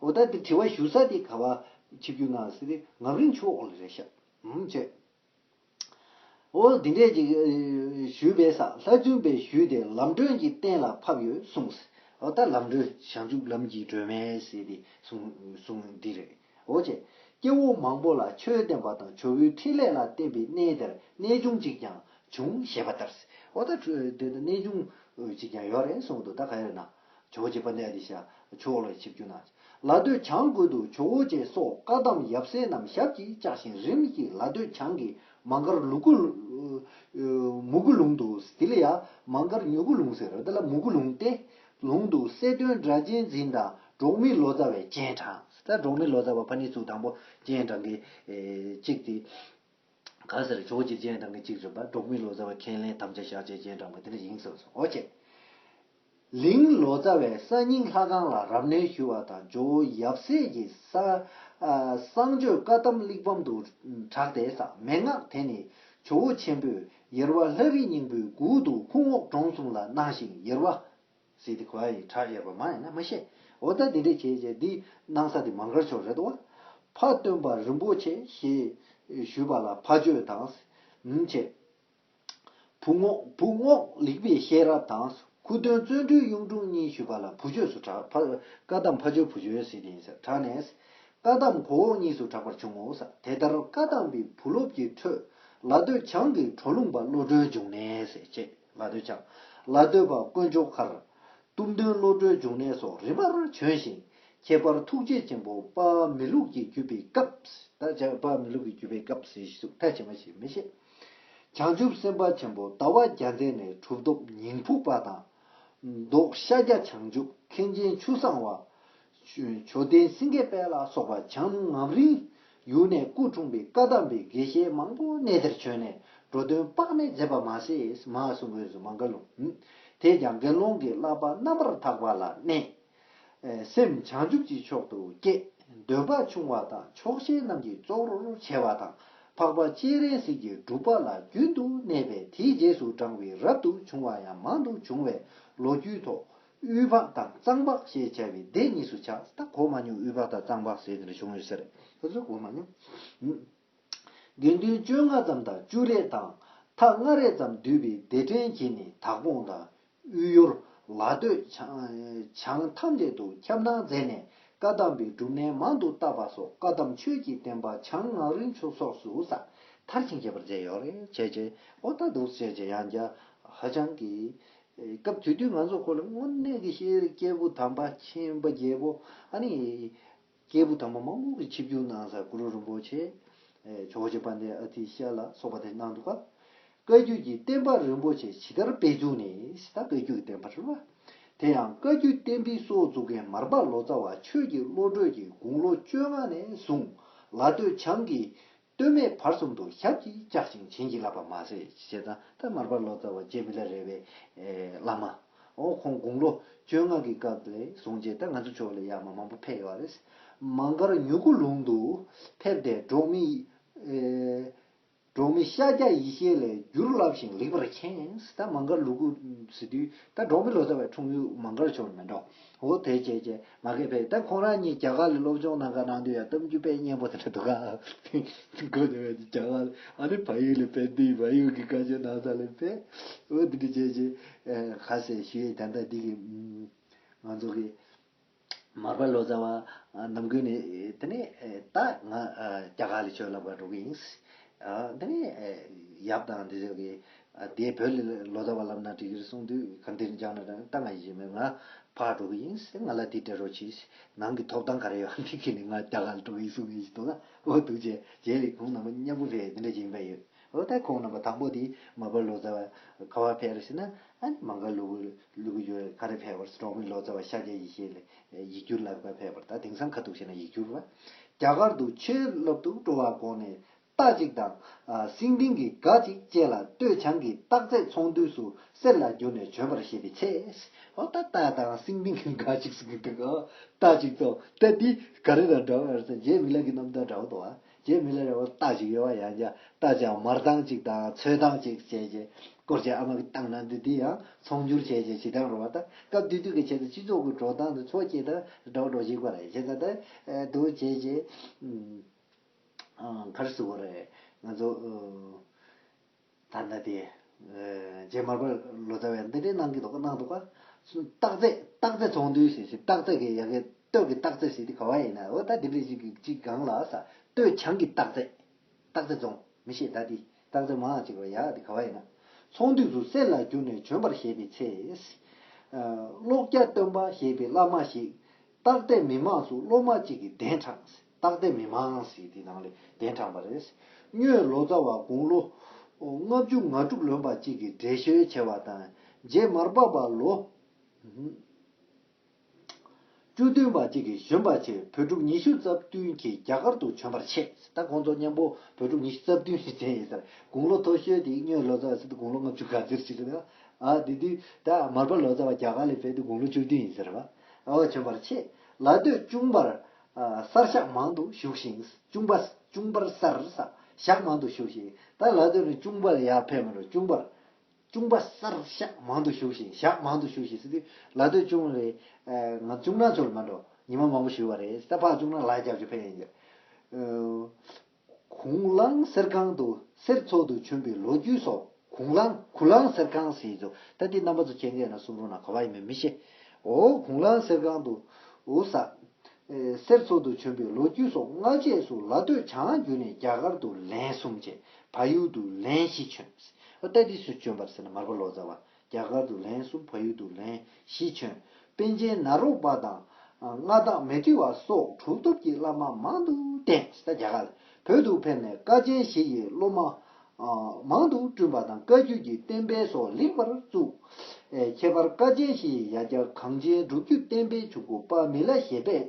འོ་ད་འདིར་དྲི་བ་ཞུ་ས་དེ་ག་བ། ཆིབས་བརྒྱུད་ནང་སི་ཏི་ངམ་རིང་ཆུ་འོག་ལ་རེད་ཤག་ཨུ་ཆེ། འོ་འདི་འདྲས་ཅིག་ཞུས་པས་ས་ལྷ་བཙུན་པས་ཞུས་ཏེ་ལམ་སྒྲོན་གྱི་སྟེང་ལ་ཕབ་ཡོད་གསུངས། འོ་ད་ལམ་སྒྲོན་བྱང་ཆུབ་ལམ་གྱི་སྒྲོན་མས་ཟེར་ཏེ་གསུངས་འདི་རེད་འོ་ཆེ། སྐྱེ་བོ་མང་པོ་ལ་ཆོས་བསྟན་པ་དང་ཇོ་བོའི་འཕྲིན་ལས་ལ་བརྟེན་པའི་གནས་དེར་གནས་ཆུང་ཅིག་ཀྱང་བྱུང་ཞེས་པ་ལྟར། འོ་ད་དེ་ལྟར་གནས་ཆུང་ཅིག་ཀྱང་ཡོད་རེད་གསུངས་འདུག་ད་ག་ཡོད་ན། བྱའོ་བྱེད་པ་གནས་ཏེ་བྱ། ཕྱོགས་ལ་ཆིབས་རྒྱུ་ན། ལ་སྟོད་བྱང་དགོད་དུ་བྱའོ་བྱས་སོགས་བཀའ་གདམས་ཡབ་སྲས་རྣམས་ཞབས་ཀྱིས་བཅགས་ཤིང་རིམ་གྱིས་ལ་སྟོད་བྱང་གི་མ་མགར་ལུ་གུ། མུ་གུ་ལུང་དུ། དེ་ལ་ཡང་མ་མགར་མྱུ་གུ་ལུང་ཟེར་རོ། དེ་ལ་མུ་གུ་ལུང་སྟེ། ལུང་དུ་སེ་སྟོན་སྒྲ་གཅན་འཛིན་དང་འབྲོག་མི་ལོ་ཙཱ་བས་སྤྱན་དྲངས། འབྲོག་མི་ལོ་ཙཱ་བ་ཕ་ནི་ཚུལ་དང་པོ་སྤྱན་དྲངས་ཀྱི་གཅིག་སྟེ། གང་ཟེར་ཇོ་བོ་རྗེ་སྤྱན་དྲངས་ཀྱི་གཅིག་རེད་པ་འབྲོག་མི་ལོ་ཙཱ་བ་ཁས་ལེན་དམ་བཅའ་བཞག་རྗེས་སྤྱན་དྲངས་པ་དེ་འདྲ་ཡིན་བསམས་སོང་ཨོ་ཅེ། ལིང་ལོ་ཙཱ་བས་ས་སྙིང་ལྷ་ཁང་ལ་རབ་གནས་ཞུ་བ་དང་ཇོ་བོ་ཡབ་སྲས་ཀྱི་གསང་སྤྱོད་བཀའ་གདམས་གླེགས་བམ་དུ་གྲགས་ཏེ་ཟག་མེད་སྔགས་དེ་ནི་ཇོ་བོ་ཆེན་པོས་ཡེར་བ་ལྷ་རི་སྙིང་པོའི་མགུལ་དུ་ཁུང་འོག་འབྲོང་གསུམ་ལ་གནང་ཞིང་ཡེར་བ། སྲིད་དེ་གོ་ཡ་ཡིས་གྲགས་ཡོད་པ་མ་ཡིན་ན་མི་ཤེས། འོ་ད་དེ་འདྲས་བྱས་རྗེས་འདིའི་གནང་ས་དེ་མ་མགར་ཕྱོགས་རེད་བ། ཕ་སྟོན་པ་རིན་པོ་ཆེ་ཞེས་ཞུས་པ་ལ་ཕ་བཅོས་དང། མི་བྱེད། བུ་རྔོག་བུ་རྔོག་ལེགས་པའི་ཤེས་རབ་དང་སྐུ་སྟོན་བརྩོན་འགྲུས་གཡུང་དྲུང་གཉིས་ཞུས་པ་ལ་བུ་བཅོས་སུ་གྲགས་ཕ་བཀའ་གདམས་ཕ་བཅོས་བུ་བཅོས་སྲིད་ཡིན་ཟེར་གྲགས་ནས། བཀའ་གདམས་གོ་འོག་གཉིས་སུ་གྲགས་པར་བྱུང་ངོ། དེ་ལྟར་བཀའ་གདམས་པའི་བུ་སློབ་ཀྱི་ཁྲོད་ལ་སྟོད་བྱང་གི་གྲོ་ལུང་པ་བློ་གྲོས་འབྱུང་གནས་ཅེས། ལ་སྟོད་ཆ། ལ་སྟོད་པ་དཀོན་མཆོག་མཁར། གཏུམ་སྟོན་བློ་གྲོས་འབྱུང་གནས་སོགས་རིམ་པར་བྱོན་ཞིང། ཁྱད་པར་ཐུགས་རྗེ་ཆེན་པོ་པཎྜི་ལུགས་ཀྱི་བརྒྱུད་པའི་སྐབས། པཎྜི་ལུགས་ཀྱི་བརྒྱུད་པའི་སྐབས་སུ་ཞིག་ཐལ་ཆེ་མ་ཞིག་མི་ཤེས། བྱང་ཆུབ་སེམས་དཔའ་ཆེན་པོ་ཟླ་བ་བརྒྱ་མཛད་ནས་གྲུབ་ཐོབ་ཉིང་ཕུག་པ་དང། མདོག་ཤཱཀྱ་བྱང་ཆུབ་མཁན་ཆེན་ཆུ་བཟང་བ། མཆོད་རྟེན་སེང་གེ་དཔལ་ལ་སོགས་པ་བྱང་ངམ་རིང་ཡུལ་ནས་སྐུ་འཁྲུངས་པའི་བཀའ་གདམས་པའི་དགེ་བཤེས་མང་པོ་གནས་དེར་བྱོན་ནས་འགྲོ་དོན་དཔག་མེད་མཛད་པ་མ་ཟད་མ་གསུང་དགོན་སུ་མ་འགལ་ལུང། དེས་ཀྱང་དགེ་སློང་གི་བསླབ་པ་རྣམ་པར་དག་པ་ལ་གནས། སེམས་བྱང་ཆུབ་ཀྱི་མཆོག་ཏུ་བསྐྱེད། འདོད་པ་ཆུང་བ་དང་ཆོག་ཤེས་རྣམས་ཀྱི་གཙོར་བྱས་པ་དང་འཕགས་པ་སྤྱན་རས་གཟིགས་ཀྱི་སྒྲུབ་པ་ལ་རྒྱུན་དུ་གནས་པས་དེའི་རྗེས་སུ་འབྲངས་པའི་རབ་ཏུ་བྱུང་བ་ཡང་མང་དུ་བྱུང་བས་ལོ་རྒྱུས་ཐོག་དབུས་ཕག་དང་གཙང་ཕག་ཞེས་བྱ་བའི་སྡེ་གཉིས་སུ་ཆགས་ས་གོ་མ་མྱོང་དབུས་ཕག་དང་གཙང་ཕག་ཟེར་འདིར་བྱུང་ཡོད་ཟེར། ཁོ་ཚོས་གོ་མ་མྱོང། དགེ་འདུན་བཅོ་ལྔ་ཙམ་དང་བཅུ་རེ་དང་ཐ་ལྔ་རེ་ཙམ་འདུས་པའི་སྡེ་ཕྲན་གྱིས་ནི་དྭགས་སྤུངས་དང། དབུས་ཡོར། ལ་སྟོད། བྱང་ཐམས་ཅད་དུ་ཁྱབ་སྣང་མཛད་ནས་བཀའ་གདམས་པའི་སྒྲུབ་གནས་མང་དུ་བཏབ་པ་སོགས་བཀའ་གདམས་ཆོས་ཀྱི་བསྟན་པ་བྱང་ངག་རིན་ཆོ་སོགས་སུ་ས་མཐར་ཕྱིན་ཁྱད་པར་མཛད་ཡོད། རེད་བྱས། ཨོ་ད་དུག་བྱས་བྱས་ཡང་བརྒྱ། ཧ་ཅང་གི། སྐབས་དེ་དུས་ང་ཚོ་ཁོ་ལ་དངོས་གནས་ཀྱི་ཤེས་རིག་སྐྱེས་བུ་དམ་པ་ཆེན་པོ་རྒྱལ་པོ་ཨ་ནི། སྐྱེས་བུ་དམ་པ་མང་པོ་གི་ཆིབས་བསྒྱུར་གནང་ས་གུ་རུ་རིན་པོ་ཆེ། ཇོ་བོ་རྗེ་དཔལ་ལྡན་ཨ་ཏིའི་ཞལ་ལ་སོགས་པ་དེ་གནང་འདུག་བཀའ་བརྒྱུད་ཀྱི་བསྟན་པ་རིན་པོ་ཆེ་ཇི་ལྟར་སྤེལ་བཙུགས་ནས་ད་བཀའ་བརྒྱུད་ཀྱི་བསྟན་པ་གྲུབ། དེ་ཡང་བཀའ་བརྒྱུད་བསྟན་པའི་སྲོག་བཙུགས་མཁན་མར་པ་ལོ་ཙཱ་བ་ཆོས་ཀྱི་བློ་གྲོས་ཀྱིས་དགུང་ལོ་བཅོ་ལྔ་ནས་བཟུང་ལ་སྟོད་བྱང་གི་སྟོད་སྨད་བར་གསུམ་དུ་ཞབས་ཀྱིས་བཅགས་ཤིང་བྱིན་གྱིས་བརླབས་པ་མ་ཟད་ཞེ་སྡང་དང་མར་པ་ལོ་ཙཱ་བ་ཇེ་མི་ལ་རས་པའི་བླ་མ། འོ་ཁོང་དགུང་ལོ་བཅོ་ལྔ་གི་སྐབས་ལས་བཟུང་རྗེས་ད་ང་ཚོ་ཕྱོགས་ལ་ཡ་མ་མང་པོ་ཕེབས་ཡོད་རེད། མ་མགར་མྱུ་གུ་ལུང་དུ་ཕེབས་ཏེ་འབྲོག་མི། འབྲོག་མི་ཤཱཀྱ་ཡེ་ཤེས་ལས་བསྒྱུར་བསླབས་ཤིང་ལེགས་པར་མཁྱེན། ད་མ་མགར་ལུ་གུ་ཟེར་དུས་ད་འབྲོག་མི་ལོ་ཙཱ་བའི་འཁྲུངས་ཡུལ་མ་མགར་ཕྱོགས་ནི་མིན་འགྲོ། འོ་དེ་བྱས་བྱས། མ་གས་པས་ད་ཁོང་རང་གཉིས་རྒྱ་གར་ལ་སློབ་སྦྱོང་གནང་ག་གནང་དུས་ཡང་གཏམ་རྒྱུད་དཔེ་སྙན་པོ་དེ་འདྲ་འདུག་ག། དགོས་དེ་བས་རྒྱ་གར་ལ་ཨ་རིའི་བལ་ཡུལ་ལས་དཔལ་ཏིའི་བལ་ཡུལ་གྱི་བཀའ་ཆོས་གནང་ས་ལས་དཔལ། འོ་དེ་འདྲ་བྱས་བྱས། ག་ཟེ་ཞུ་ཡས་དམ་ཐག་འདི་གི། ང་ཚོ་གི། མར་པ་ལོ་ཙཱ་བ། ནམ་ཀུན་ནས་དེ་ནས་ད་ང་རྒྱ་གར་ལ་ཆོས་ལབ་ག་འགྲོ་གི་ཡིན། དེ་ནས། ཡབ་དང་དེ་ཚོ་གི། དེས་བོད་ལ་ལོ་ཟླ་བ་བསླབ་ན་འགྲིག་གི་རེད་གསུངས་དུས་གང་དེར་འགྱངས་ན་ད་ང་ཡི་ཞེ་མེད་ང་ཕར་འགྲོ་གི་ཡིན་ཟེར་ང་ལ་དེ་སྤྲད་རོགས་གྱིས་ནང་གི་ཐོབ་ཐང་ག་རེ་ཡོད་ཨང་དེ་ཁྱེར་ནས་ང་རྒྱ་གར་ལ་འགྲོ་གི་ཡིན་གསུངས་ངས་ཞུས་དོགས་ལ་འོ་འདུག་བྱས་རྗེས་ལས་ཁུངས་ནང་པ་མཉམ་པོ་བས་དེ་འདྲ་བྱེད་ཀྱིན་པ་ཡོད་འོ་ལྟ་ཁོང་རྣམ་པ་དང་པོ་དེས་མ་བོད་ལོ་ཙཱ་བ་ག་བ་ཕེབས་རེད་ཟེར་ན་ཨ་ནི་མང་ག་ལུག་ལུག་གི་ཡོད་ག་རེ་ཕེབས་བར་གྲོང་མི་ལོ་ཙཱ་བ་ཤཱཀྱ་ཡེ་ཤེས་ལ་ཡིག་སྒྱུར་ལག་པ་ཕེབས་པར་ད་དེང་སང་ག་འདུག་ཤེ་ན་ཡིག་སྒྱུར་བ་རྒྱ་གར་དུ་ཆོས་སློབ་ཏུ་འགྲོ་བ་དགོངས་ནས་རྟགས་གཅིག་དང། སིང་ལྡིང་གི་སྒ་གཅིག་བཅས་ལ་སྟོད་བྱང་གི་རྟགས་ཚད་ཚོང་འདུས་སུ་གསེར་ལ་བསྒྱུར་ནས་བྱོན་པར་བཞེད་པའི་ཚེ། ཨོ་ད་རྟགས་དང་སིང་ལྡིང་གི་སྒ་གཅིག་སིང་ལྡིང་གི་རྟགས་གཅིག་ཚོང་དེ་འདི་ག་རེ་དང་འདྲ་བ་ཡང་སྲིད་རྗེ་མི་ལ་གི་རྣམ་ཐར་འདྲ་བོ་དང། རྗེ་མི་ལ་ར་བར་རྟགས་གཅིག་ཡོད་པ་ཡང་བྱ་རྟགས་ཀྱང་མར་ཐང་གཅིག་དང་ཚོས་ཐང་གཅིག་བཅས་བྱས། སྐོར་བྱེད་ཨ་མ་གི་རྟགས་ནང་དུ་འདི་ཡང་ཚོང་བསྒྱུར་བྱས་ཀྱི་བྱེ་ཐང་རུ་བ་དང་སྐབས་དུས་དུས་ཀྱི་ཆེད་དུ་སྤྱི་ཚོགས་ཀྱི་འགྲོ་སྟངས་དང་འཚོ་བྱེད་དང་འདྲ་བ་འགྲོ་བྱེད་ཀྱི་བར་བྱེ་ད་དང་དུ་བྱས་བྱས། མཐར་ཟུག་གོ་རེ། ང་ཚོ། ད་ལྟ་དེ། རྗེ་མར་པ་ལོ་ཙཱ་བས་འདི་འདྲའི་གནང་གི་འདུག་གནང་འདུག་ག། སྟག་རྩེ། སྟག་རྩེ་ཚོང་འདུས་ཞེས་ཞེས་སྟག་རྩེ་གི་ཡ་གི་སྟོད་ཀྱི་སྟག་རྩེ་ཞེས་དེ་ག་བ་ཡིན་ན་འོ་ད་དེ་འདྲའི་ཞིག་གི་ཅིག་གང་ལགས་ས། སྟོད་བྱང་གི་སྟག་རྩེ། སྟག་རྩེ་རྫོང། མི་ཤེས་ད་དེ། སྟག་རྩེ་མའང་ཅིག་རོ་ཡ་དེ་ག་བ་ཡིན་ན། ཚོང་འདུས་སུ་གསེར་ལ་བསྒྱུར་ནས་བྱོན་པར་བཞེད་པའི་ཚེ། ཀློག་སྐྱ་སྟོན་པ་ཞེས་པའི་བླ་མ་ཞིག། སྟག་རྩེ་མི་མང་སུ་སློབ་མ་ཅིག་གི་གདན་དྲངས། སྟག་སྡེ་མི་མངས་ཞེས་དེའི་ནང་ལས་གདན་དྲངས་པ་རེད། སྨྱོས་ལོ་ཙཱ་བ་དགུང་ལོ་ལྔ་བཅུ་ང་དྲུག་ལོན་པ་གཅིག་གིས་འགྲེལ་བཤད་བྱས་པ་དང་རྗེ་མར་པ་པ་ལོ་བཅུ་བདུན་པ་གཅིག་གིས་བཞོན་པ་ཆེ་བོད་ཕྲུག་ཉི་ཤུ་རྩ་བདུན་གྱིས་རྒྱ་གར་དུ་བྱོན་པར་ཆས། ད་ཁོང་ཚོ་མཉམ་པོ་བོད་ཕྲུག་ཉི་ཤུ་རྩ་བདུན་ཞིག་བྱས་ཡོད་ཟེར། དགུང་ལོ་མཐོ་ཤོས་དེ་སྨྱོས་ལོ་ཙཱ་བ་དགུང་ལོ་ལྔ་བཅུ་ག་ཚོད་ཅིག་རེད། དེ་དུས་ད་མར་པ་ལོ་ཙཱ་བ་རྒྱ་གར་ལས་ཕེབས་དུས་དགུང་ལོ་བཅུ་བདུན་ཡིན་ཟེར། བྱོན་པར་ཆས། ལ་སྟོད་ཅུང་བར་གསར་ཞག་མང་དུ་བཞུགས་ཤིང། ཅུང་པ། ཅུང་པར་གསར། ཞག་མང་དུ་བཞུགས་ཤིང། ད་ལ་དོན་ནི་ཅུང་པ་ལ་ཡང་ཕན་མི་འགྲོ་ཅུང་པར། ཅུང་པ་གསར། ཞག་མང་དུ་བཞུགས་ཤིང་ཞག་མང་དུ་བཞུགས་ཤིང་ཟེར་དུས་ལ་དོན་ཅུང་རེད། ང་ཅུང་ན་ཚོད་ལ་མ་འགྲོ། ཉི་མ་མང་པོ་བཞུགས་པ་རེད། ད་ཕག་ཅུང་ན་ལག་བརྒྱབ་རྒྱུ་ཕན་ཡིན། གུང་གླང་གསེར་ཁང་དུ་གསེར་འཚོགས་འདུ་བྱོན་པའི་ལོ་རྒྱུས་སོགས་གུང་གླང་གུ་གླང་གསེར་ཁང་ཟེར་གྱི་འདུག་ད་དེ་རྣམ་པ་ཚོ་མཁྱེན་མཁན་ན་གསུང་རུང་ན་གོ་བ་ཡིན་མིན་མི་ཤེས། འོ་གུང་གླང་གསེར་ཁང་དུ། ཨོ་ས། གསེར་འཚོགས་འདུ་བྱོན་པའི་ལོ་རྒྱུས་སོགས་སྔ་རྗེས་སུ་ལ་སྟོད་བྱང་བརྒྱུད་ནས་རྒྱ་གར་དུ་ལན་གསུམ་བྱས་ཕ་ཡུལ་དུ་ལན་བཞི་བྱོན། ད་དེ་སུས་བྱོན་པར་ཟེར་ན་མར་པ་ལོ་ཙཱ་བ་རྒྱ་གར་དུ་ལན་གསུམ་བལ་ཡུལ་དུ་ལན་བཞི་བྱོན། པཎ་ཆེན་ནཱ་རོ་པ་དང། མངའ་བདག་མེ་ཏི་བ་སོགས་གྲུབ་ཐོབ་ཀྱི་བླ་མ་མང་དུ་བསྟེན། རྒྱ་གར་བོད་དུ་ཕེབས་ནས་ཀ་ཆེན་བཞི་ཡི་སློབ་མ། མང་དུ་བསྐྲུན་པ་དང་བཀའ་བརྒྱུད་ཀྱི་བསྟན་དཔེ་སོགས་ལེགས་པར་བཙུགས། ཁྱད་པར་ཀ་ཆེན་བཞི་ཡི་ཡ་གྱལ་གངས་ཅན་སྒྲུབ་བརྒྱུད་བསྟན་དཔེ་བྱུག་གུ་དཔལ་མི་ལ་ཞེས་པས་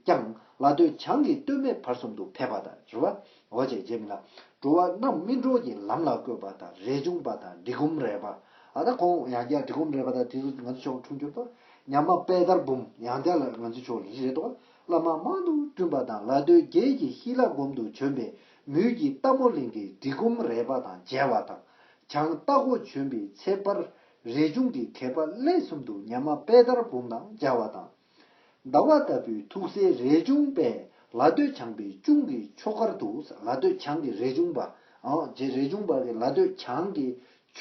ཀྱང། ལ་སྟོད་བྱང་གི་སྟོད་སྨད་བར་གསུམ་དུ་ཕལ་པ་དང་བཞི་བ། འོ་བྱེད་རྗེས་མི་ལ། འགྲོ་བ་རྣམས་སྨིན་གྲོལ་གྱི་ལམ་ལ་བཀོད་པ་དང་རས་ཆུང་པ་དང་འབྲི་གུམ་རལ་པ། ཨ་ད་ཁོང་ཡང་བསྐྱར་འབྲི་གུམ་རལ་པ་དང་དེ་ཚོ་ང་ཚོ་ཕྱོགས་འཁྲུངས་གྱུར་ཏོ། ཉམས་མ་དཔལ་དར་འབུམ་ཡང་བསྐྱར་ལ་ང་ཚོའི་ཕྱོགས་ལ་རི་རས་ཏོ། བླ་མ་མང་དུ་བསྐྲུན་པ་དང་ལ་སྟོད་རྒྱལ་གྱི་ཤི་ལ་སྒོམ་དུ་བྱོན་པའི་མུས་ཀྱི་རྟ་མོ་གླིང་གི་འབྲི་གུམ་རལ་པ་དང་མཇལ་བ་དང། བྱང་རྟ་སྒོ་བྱོན་པའི་ཚེ་དཔར་རས་ཆུང་གི་མཁས་པ་གླེགས་གསུམ་དུ་ཉམས་མ་དཔལ་དར་འབུམ་དང་མཇལ་བ་དང། ཟླ་བ་ལྟ་བུའི་ཐུགས་སྲས་རས་ཆུང་པས་ལ་སྟོད་བྱང་པའི་ཅུང་གི་ཕྱོགས་ཁར་དུ་ལ་སྟོད་བྱང་གི་རས་ཆུང་པ། རས་ཆུང་པ་གི་ལ་སྟོད་བྱང་གི་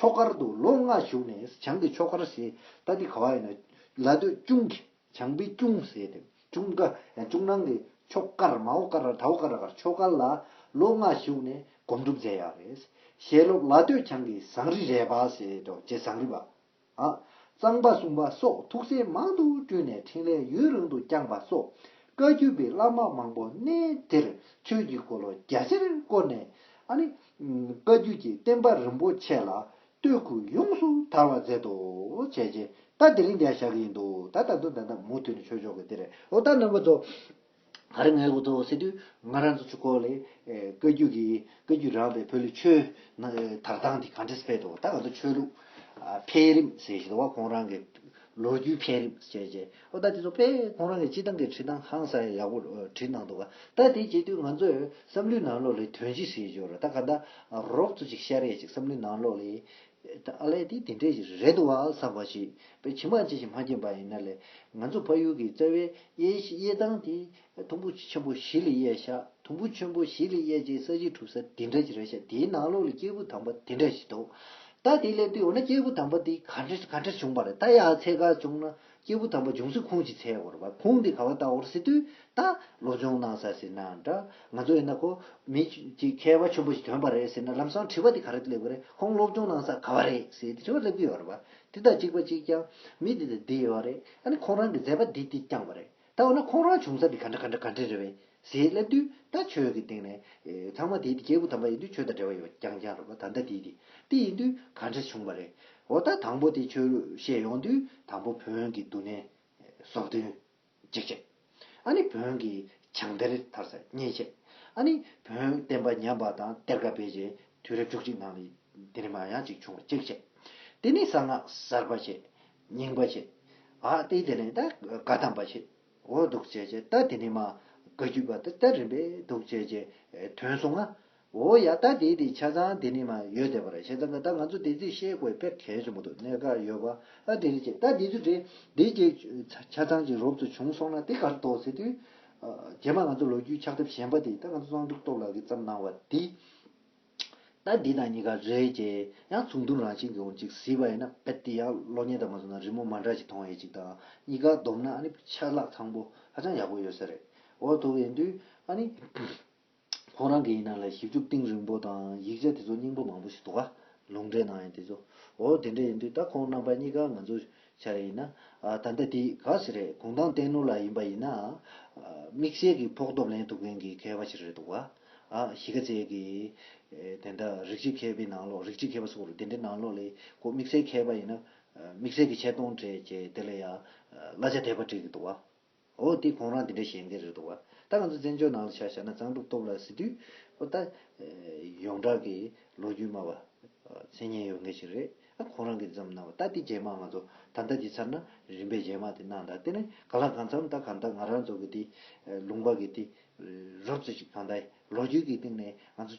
ཕྱོགས་ཁར་དུ་ལོ་ལྔ་བཞུགས་ནས་བྱང་གི་ཕྱོགས་ཁར་ཞེས་ད་འདི་ག་བ་ཡིན་ན་ལ་སྟོད་ཅུང་གི་བྱང་པའི་ཅུང་ཟེར་ཏེ་ཅུང་ཀ་ཅུང་ནང་གི་ཕྱོགས་ཀར་མའོ་ཀ་ར་ཐའོ་ཀ་ར་ཀར་ཕྱོགས་ཁར་ལ་ལོ་ལྔ་བཞུགས་ནས་སྒོམ་སྒྲུབ་མཛད་ཡག་རེད། ཞལ་སློབ་ལ་སྟོད་བྱང་གི་ཟངས་རི་རས་པ་ཞེས་དོ་ཅེ་ཟངས་རི་པ། ཨ། གཙང་པ་སྲུང་པ་སོགས་ཐུགས་སྲས་མང་དུ་བསྐྲུན་ནས་འཕྲིན་ལས་ཡུན་རིང་དུ་བསྐྱངས་པ་སོགས་བཀའ་བརྒྱུད་པའི་བླ་མ་མང་པོ་གནས་དེར་ཆོས་ཀྱི་འཁོར་ལོ་རྒྱ་ཆེར་བསྐོར་ནས། ཨ་ནི། བཀའ་བརྒྱུད་ཀྱི་བསྟན་པ་རིན་པོ་ཆེ་ལ་བསྟོད་བསྐུལ་ཡོངས་སུ་དར་བར་མཛད་དོ། བྱས་རྗེས་ད་དེ་རིང་འདི་ཡང་བཞག་གི་ཡིན་འདུག་ད་ད་དུང་ད་ད་མུ་མཐུད་ནས་ཆོས་ཕྱོགས་ཀྱི་འདིར་འོ་ད་ནང་པ་ཚོ། ད་རེས་ངའི་གོ་ཐོག་སེ་དུས་ང་རང་ཚོ་ཆུ་འཁོར་ལས་བཀའ་རྒྱུད་ཀྱི་བཀའ་རྒྱུད་རང་པའི་བོད་ལུགས་ཆོས་དར་ཐང་དེ་གངས་ཏི་སི་ཕེད་དུ་ད་ང་ཚོ་ཆོས་ལུགས་འཕེལ་རིམ་ཟེར་བཞིན་འདུག་བ་ཁོང་རང་གི་ལོ་རྒྱུས་འཕེལ་རིམ་ཟེར་བྱས་བྱས་བ་ད་དེ་ཚོ་དཔེ་ཁོང་རང་གི་སྤྱི་བཏང་གི་བྲིས་ཐང་ཧང་སང་ཡག་པོ་བྲིས་གནང་འདུག་ག་ད་དེ་བྱས་དུས་ང་ཚོས་བསམ་བློའི་ནང་ལོགས་ལས་དོན་ཅི་ཟེར་འབྱོར་ར་ད་ག་ད་རོབ་ཚོ་ཅིག་ཤར་ཡས་ཅིག་བསམ་བློའི་ནང་ལོགས་ལས་ཨ་ལས་དེ་དེ་འདྲས་ཞིག་རེད་འདུག་བ་ཟ་བ་ཞིག་པའི་ཁྱི་མ་ཅི་ཞིག་མ་སྐྱེས་པ་ཡིན་ན་ལས་ང་ཚོ་ཕ་ཡུལ་གྱི་རྩ་བའི་གཡས་གཡས་སྟངས་དེ་དུམ་བུ་ཆེན་པོ་བཞི་ལས་གཡས་ཤག་དུམ་བུ་ཆེན་པོ་བཞི་ལས་གཡས་ཀྱི་ས་གཞི་གྲུབ་ས་དེ་འདྲས་ཞིག་རེད་ཤག་དེའི་ནང་ལོགས་ལ་སྐྱེས་བུ་དམ་པ་དེ་འདྲས་ཞིག་འདུག་ད་དེ་སླེབས་དུས་འོ་ན་སྐྱེས་བུ་དམ་པ་དེ་ག་འདྲས་བྱུང་བ་རེད་ད་ཡ་ཚད་འགའ་བྱུང་ན། སྐྱེས་བུ་དམ་པ་འབྱུང་སྲིད་ཁོང་ཅིག་ཚེ་འོར་བ་ཁོང་གིས་ག་བ་ལྟ་འོར་སྲིད་དུས་ད་ལོ་འབྱུང་གནང་ས་ཟེར་ན་འདྲ་ང་ཚོ་ཡིན་ན་ཁོ་མི་གཅིག་མཁས་བ་ཆེན་པོ་ཞིག་ཐོན་པ་རེད་ཟེར་ན་ལམ་སང་དྲི་བ་དེ་ག་རེ་སླེབས་ཀྱི་རེད་ཁོང་སློབ་སྦྱོང་གནང་ས་ག་བ་རེད་ཟེར་དེ་དྲི་བ་སླེབས་ཀྱི་ཡོད་རེད་བ་དེ་དག་གཅིག་པ་གཅིག་རྐྱང་མི་དེ་དང་དེ་ཡོད་རེད་ཨ་ནི་ཁོང་རང་གི་མཛད་པ་དེ་དེ་རྐྱང་བ་རེད་ད་འོ་ན་ཁོང་རང་བྱུང་ས་དེ་ག་འདྲ་ག་འདྲ་ག་འདྲ་རེད་བས་ཟེར་སླེབས་དུས་ད་ཆོས་ཀྱི་སྟེང་ནས། ཚང་མ་དེའི་དེ་སྐྱེས་བུ་དམ་པ་ཡིན་དུས་ཆོས་དང་འབྲེལ་བ་ཡོད་པ་རྐྱང་རྐྱང་རེད་བ་ད་ལྟ་དེའི་དེ་དེ་ཡིན་དུས་ག་འདྲ་བྱུང་བ་རེད། འོ་ད་དང་པོ་དེ་ཆོས་བཤད་ཡོང་དུས་དང་པོ་བོན་གྱི་འདུ་གནས། ཟོག་འདོན། འཇིགས་བྱེད། ཨ་ནི་བོན་གྱི་བྱང་གཏེར་དར་ས་གཉན་བཤད། ཨ་ནི་བོན་བསྟན་པ་ཉམས་པ་དང་གཏེར་ཁ་བེད་སྤྱད་དུས་རབས་བཅུ་གཅིག་ནང་ལ་ཡི་དེ་རིམ་མ་ཡང་གཅིག་བྱུང་བ་གཅིག་བཤད། དེ་ནས་གསང་སྔགས་གསར་པ་བཤད། སྙིང་པོ་བྱེད། ཨ་ཏི་དེ་ནི་ད་ག་དམ་པ་བྱེད། འོ་འདུག་བྱེད་ཅེས་ད་དེ་ནི་མ་ག་རྒྱུད་པ་ད་ད་རིམ་པས་འདུག་བྱེད་ཅེས་དོན་གསུང་ང། འོ་ཡ་ད་དེ་དེ་ཆ་ཚང་དེ་ནི་མ་ཡོད་དེ་པར་བྱེད་ད་ག་ད་ང་ཚོ་དེ་ཚིག་ཤེས་དགོས་དཔེར་གལ་ཆེན་པོ་འདུག་གནད་འགག་ཡོད་པ་ཨ་དེ་རེད་ཅེས་ད་དེ་ཚུལ་དེ་དེ་ཅེས་ཆ་ཚང་ཅིག་རོབ་ཏུ་བྱུང་སོང་ན་དེ་གར་དོགས་ཟེར་དུས། རྗེས་མ་ང་ཚོ་ལོ་རྒྱུས་ཕྱག་ཐབས་གཞན་པ་དེ་ད་ང་ཚོ་གཙང་སྒྲུབ་སྟོབས་ལགས་ཀྱིས་བརྩམས་གནང་བ་དེ། ད་འདི་དང་གཉིས་ཀ་རེད་ཀྱེ། ཡང་ཚུགས་མདུན་རང་བཞིན་གྱི་འོང་ཅིག་ཟིག་པ་ཡིན་ན་བེད་དེ་ཡང་གློག་བརྙན་དང་མ་བཟུང་ན་རི་མོ་མ་འདྲ་ཞིག་མཐོང་ཡོད་ཅིག་དང་གཉིས་ཀ་བསྡོམས་ན་ཨ་ནི་ཆ་ལག་ཚང་པོ་ཧ་ཅང་ཡག་པོ་ཡོད་ས་རེད་འོ་ཐུག་ཡིན་དུས་ཨ་ནི། ཁོང་རང་གི་ཡིན་ན་ལ་ཞིབ་འཇུག་གཏིང་རིང་པོ་དང་ཡིག་ཆ་དེ་ཚོ་སྙིང་པོ་མང་པོ་ཞིག་འདུག་ག་ལུང་འདྲེན་གནང་ཡོད་དེ་ཚོ་འོ་དེ་འདྲ་ཡིན་དུས་ད་ཁོང་རྣམ་པ་གཉིས་ཀ་ང་ཚོ་བྱ་རེ་ཡིན། ད་ལྟ་དེ་ག་ཟེ་རེད་གུང་ཐང་བསྟན་ནོར་ལ་ཡིན་པ་ཡིན་ན། དམིགས་བསལ་གྱི་ཕོགས་ཐོབ་ལེན་ཐུབ་མཁན་གྱི་མཁས་པ་ཞིག་རེད་འདུག་བ། གཞིས་ཀ་རྩེ་གི། དེ་འདྲ་རིགས་གཅིག་མཁས་པའི་ནང་ལོགས་རིགས་གཅིག་མཁས་པ་སོགས་རེད་དེ་འདྲའི་ནང་ལོགས་ལས་གོ་དམིགས་བསལ་མཁས་པ་ཡིན་ན། དམིགས་བསལ་གྱི་ཆེ་མཐོང་བྲལ་ཅེས་དེ་ལ་ཡང་གླ་ཆ་དད་པ་སྤྲད་གི་འདུག་བ། འོ་དེ་ཁོང་རང་དེ་འདྲ་ཞེན་མཁན་རེད་འདུག་བ། ད་ང་ཚོ་བཙན་བྱོལ་ནང་ལ་ཆ་བཞག་ན་གཙང་སྒྲུབ་སྟོབས་ལ་གཟིགས་དུས། འོ་ད། ཡོངས་གྲགས་ཀྱི་ལོ་རྒྱུས་སྨྲ་བ། མཚན་སྙན་ཡོད་མཁན་ཞིག་རེད། ཨ་ཁོང་རང་གིས་འདི་ཙམ་གནང་བ་ད་དེ་རྗེས་མ་ང་ཚོ་ད་ལྟ་འདི་ཚར་ན་རིམ་པས་རྗེས་མ་དེ་གནང་ད་དེ་ནི་ག་ལ་གང་འཚམ་ད་གང་ལྟར་ང་རང་ཚོ་གི་དེ། ལུང་པ་གི་དེ། རབས་ཚོ་ཞིག་གང་ལྟར་ལོ་རྒྱུས་ཀྱི་སྟེང་ནས་ང་ཚོ།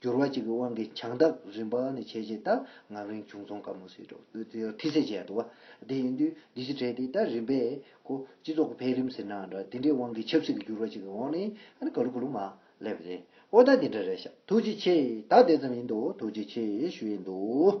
འགྱུར་བ་གཅིག་གི་དབང་གིས་བྱང་བདག་རིམ་པ་ནས་བྱས་རྗེས་ལྟར་ངམ་རིང་བྱུང་ཚོང་དཀར་མོ་སྲིད་གྲོགས་སྟོད་རྩེ་ཡར་ཐིག་སེ་བྱས་འདུག་བ་དེ་ཡིན་དུས་འདི་ཕྱི་གྲལ་དེ་ལྟར་རིམ་པས་གོ། སྤྱི་ཚོགས་ཀྱི་འཕེལ་རིམ་ཟེར་ནའང་འདྲ་དེ་འདྲའི་དབང་གིས་ཆབ་སྲིད་ཀྱི་འགྱུར་བ་གཅིག་གི་འོག་ནས་ག་ལུ་གུ་ལུ་མ་སླེབས་པ་རེད། ཨོ་ད་དེ་འདྲ་རེད་ཤག་ཐུགས་རྗེ་ཆེ་ད་དེ་ཙམ་ཡིན་འདུག་ཐུགས་རྗེ་ཆེ་ཞུ་ཡི་འདུག།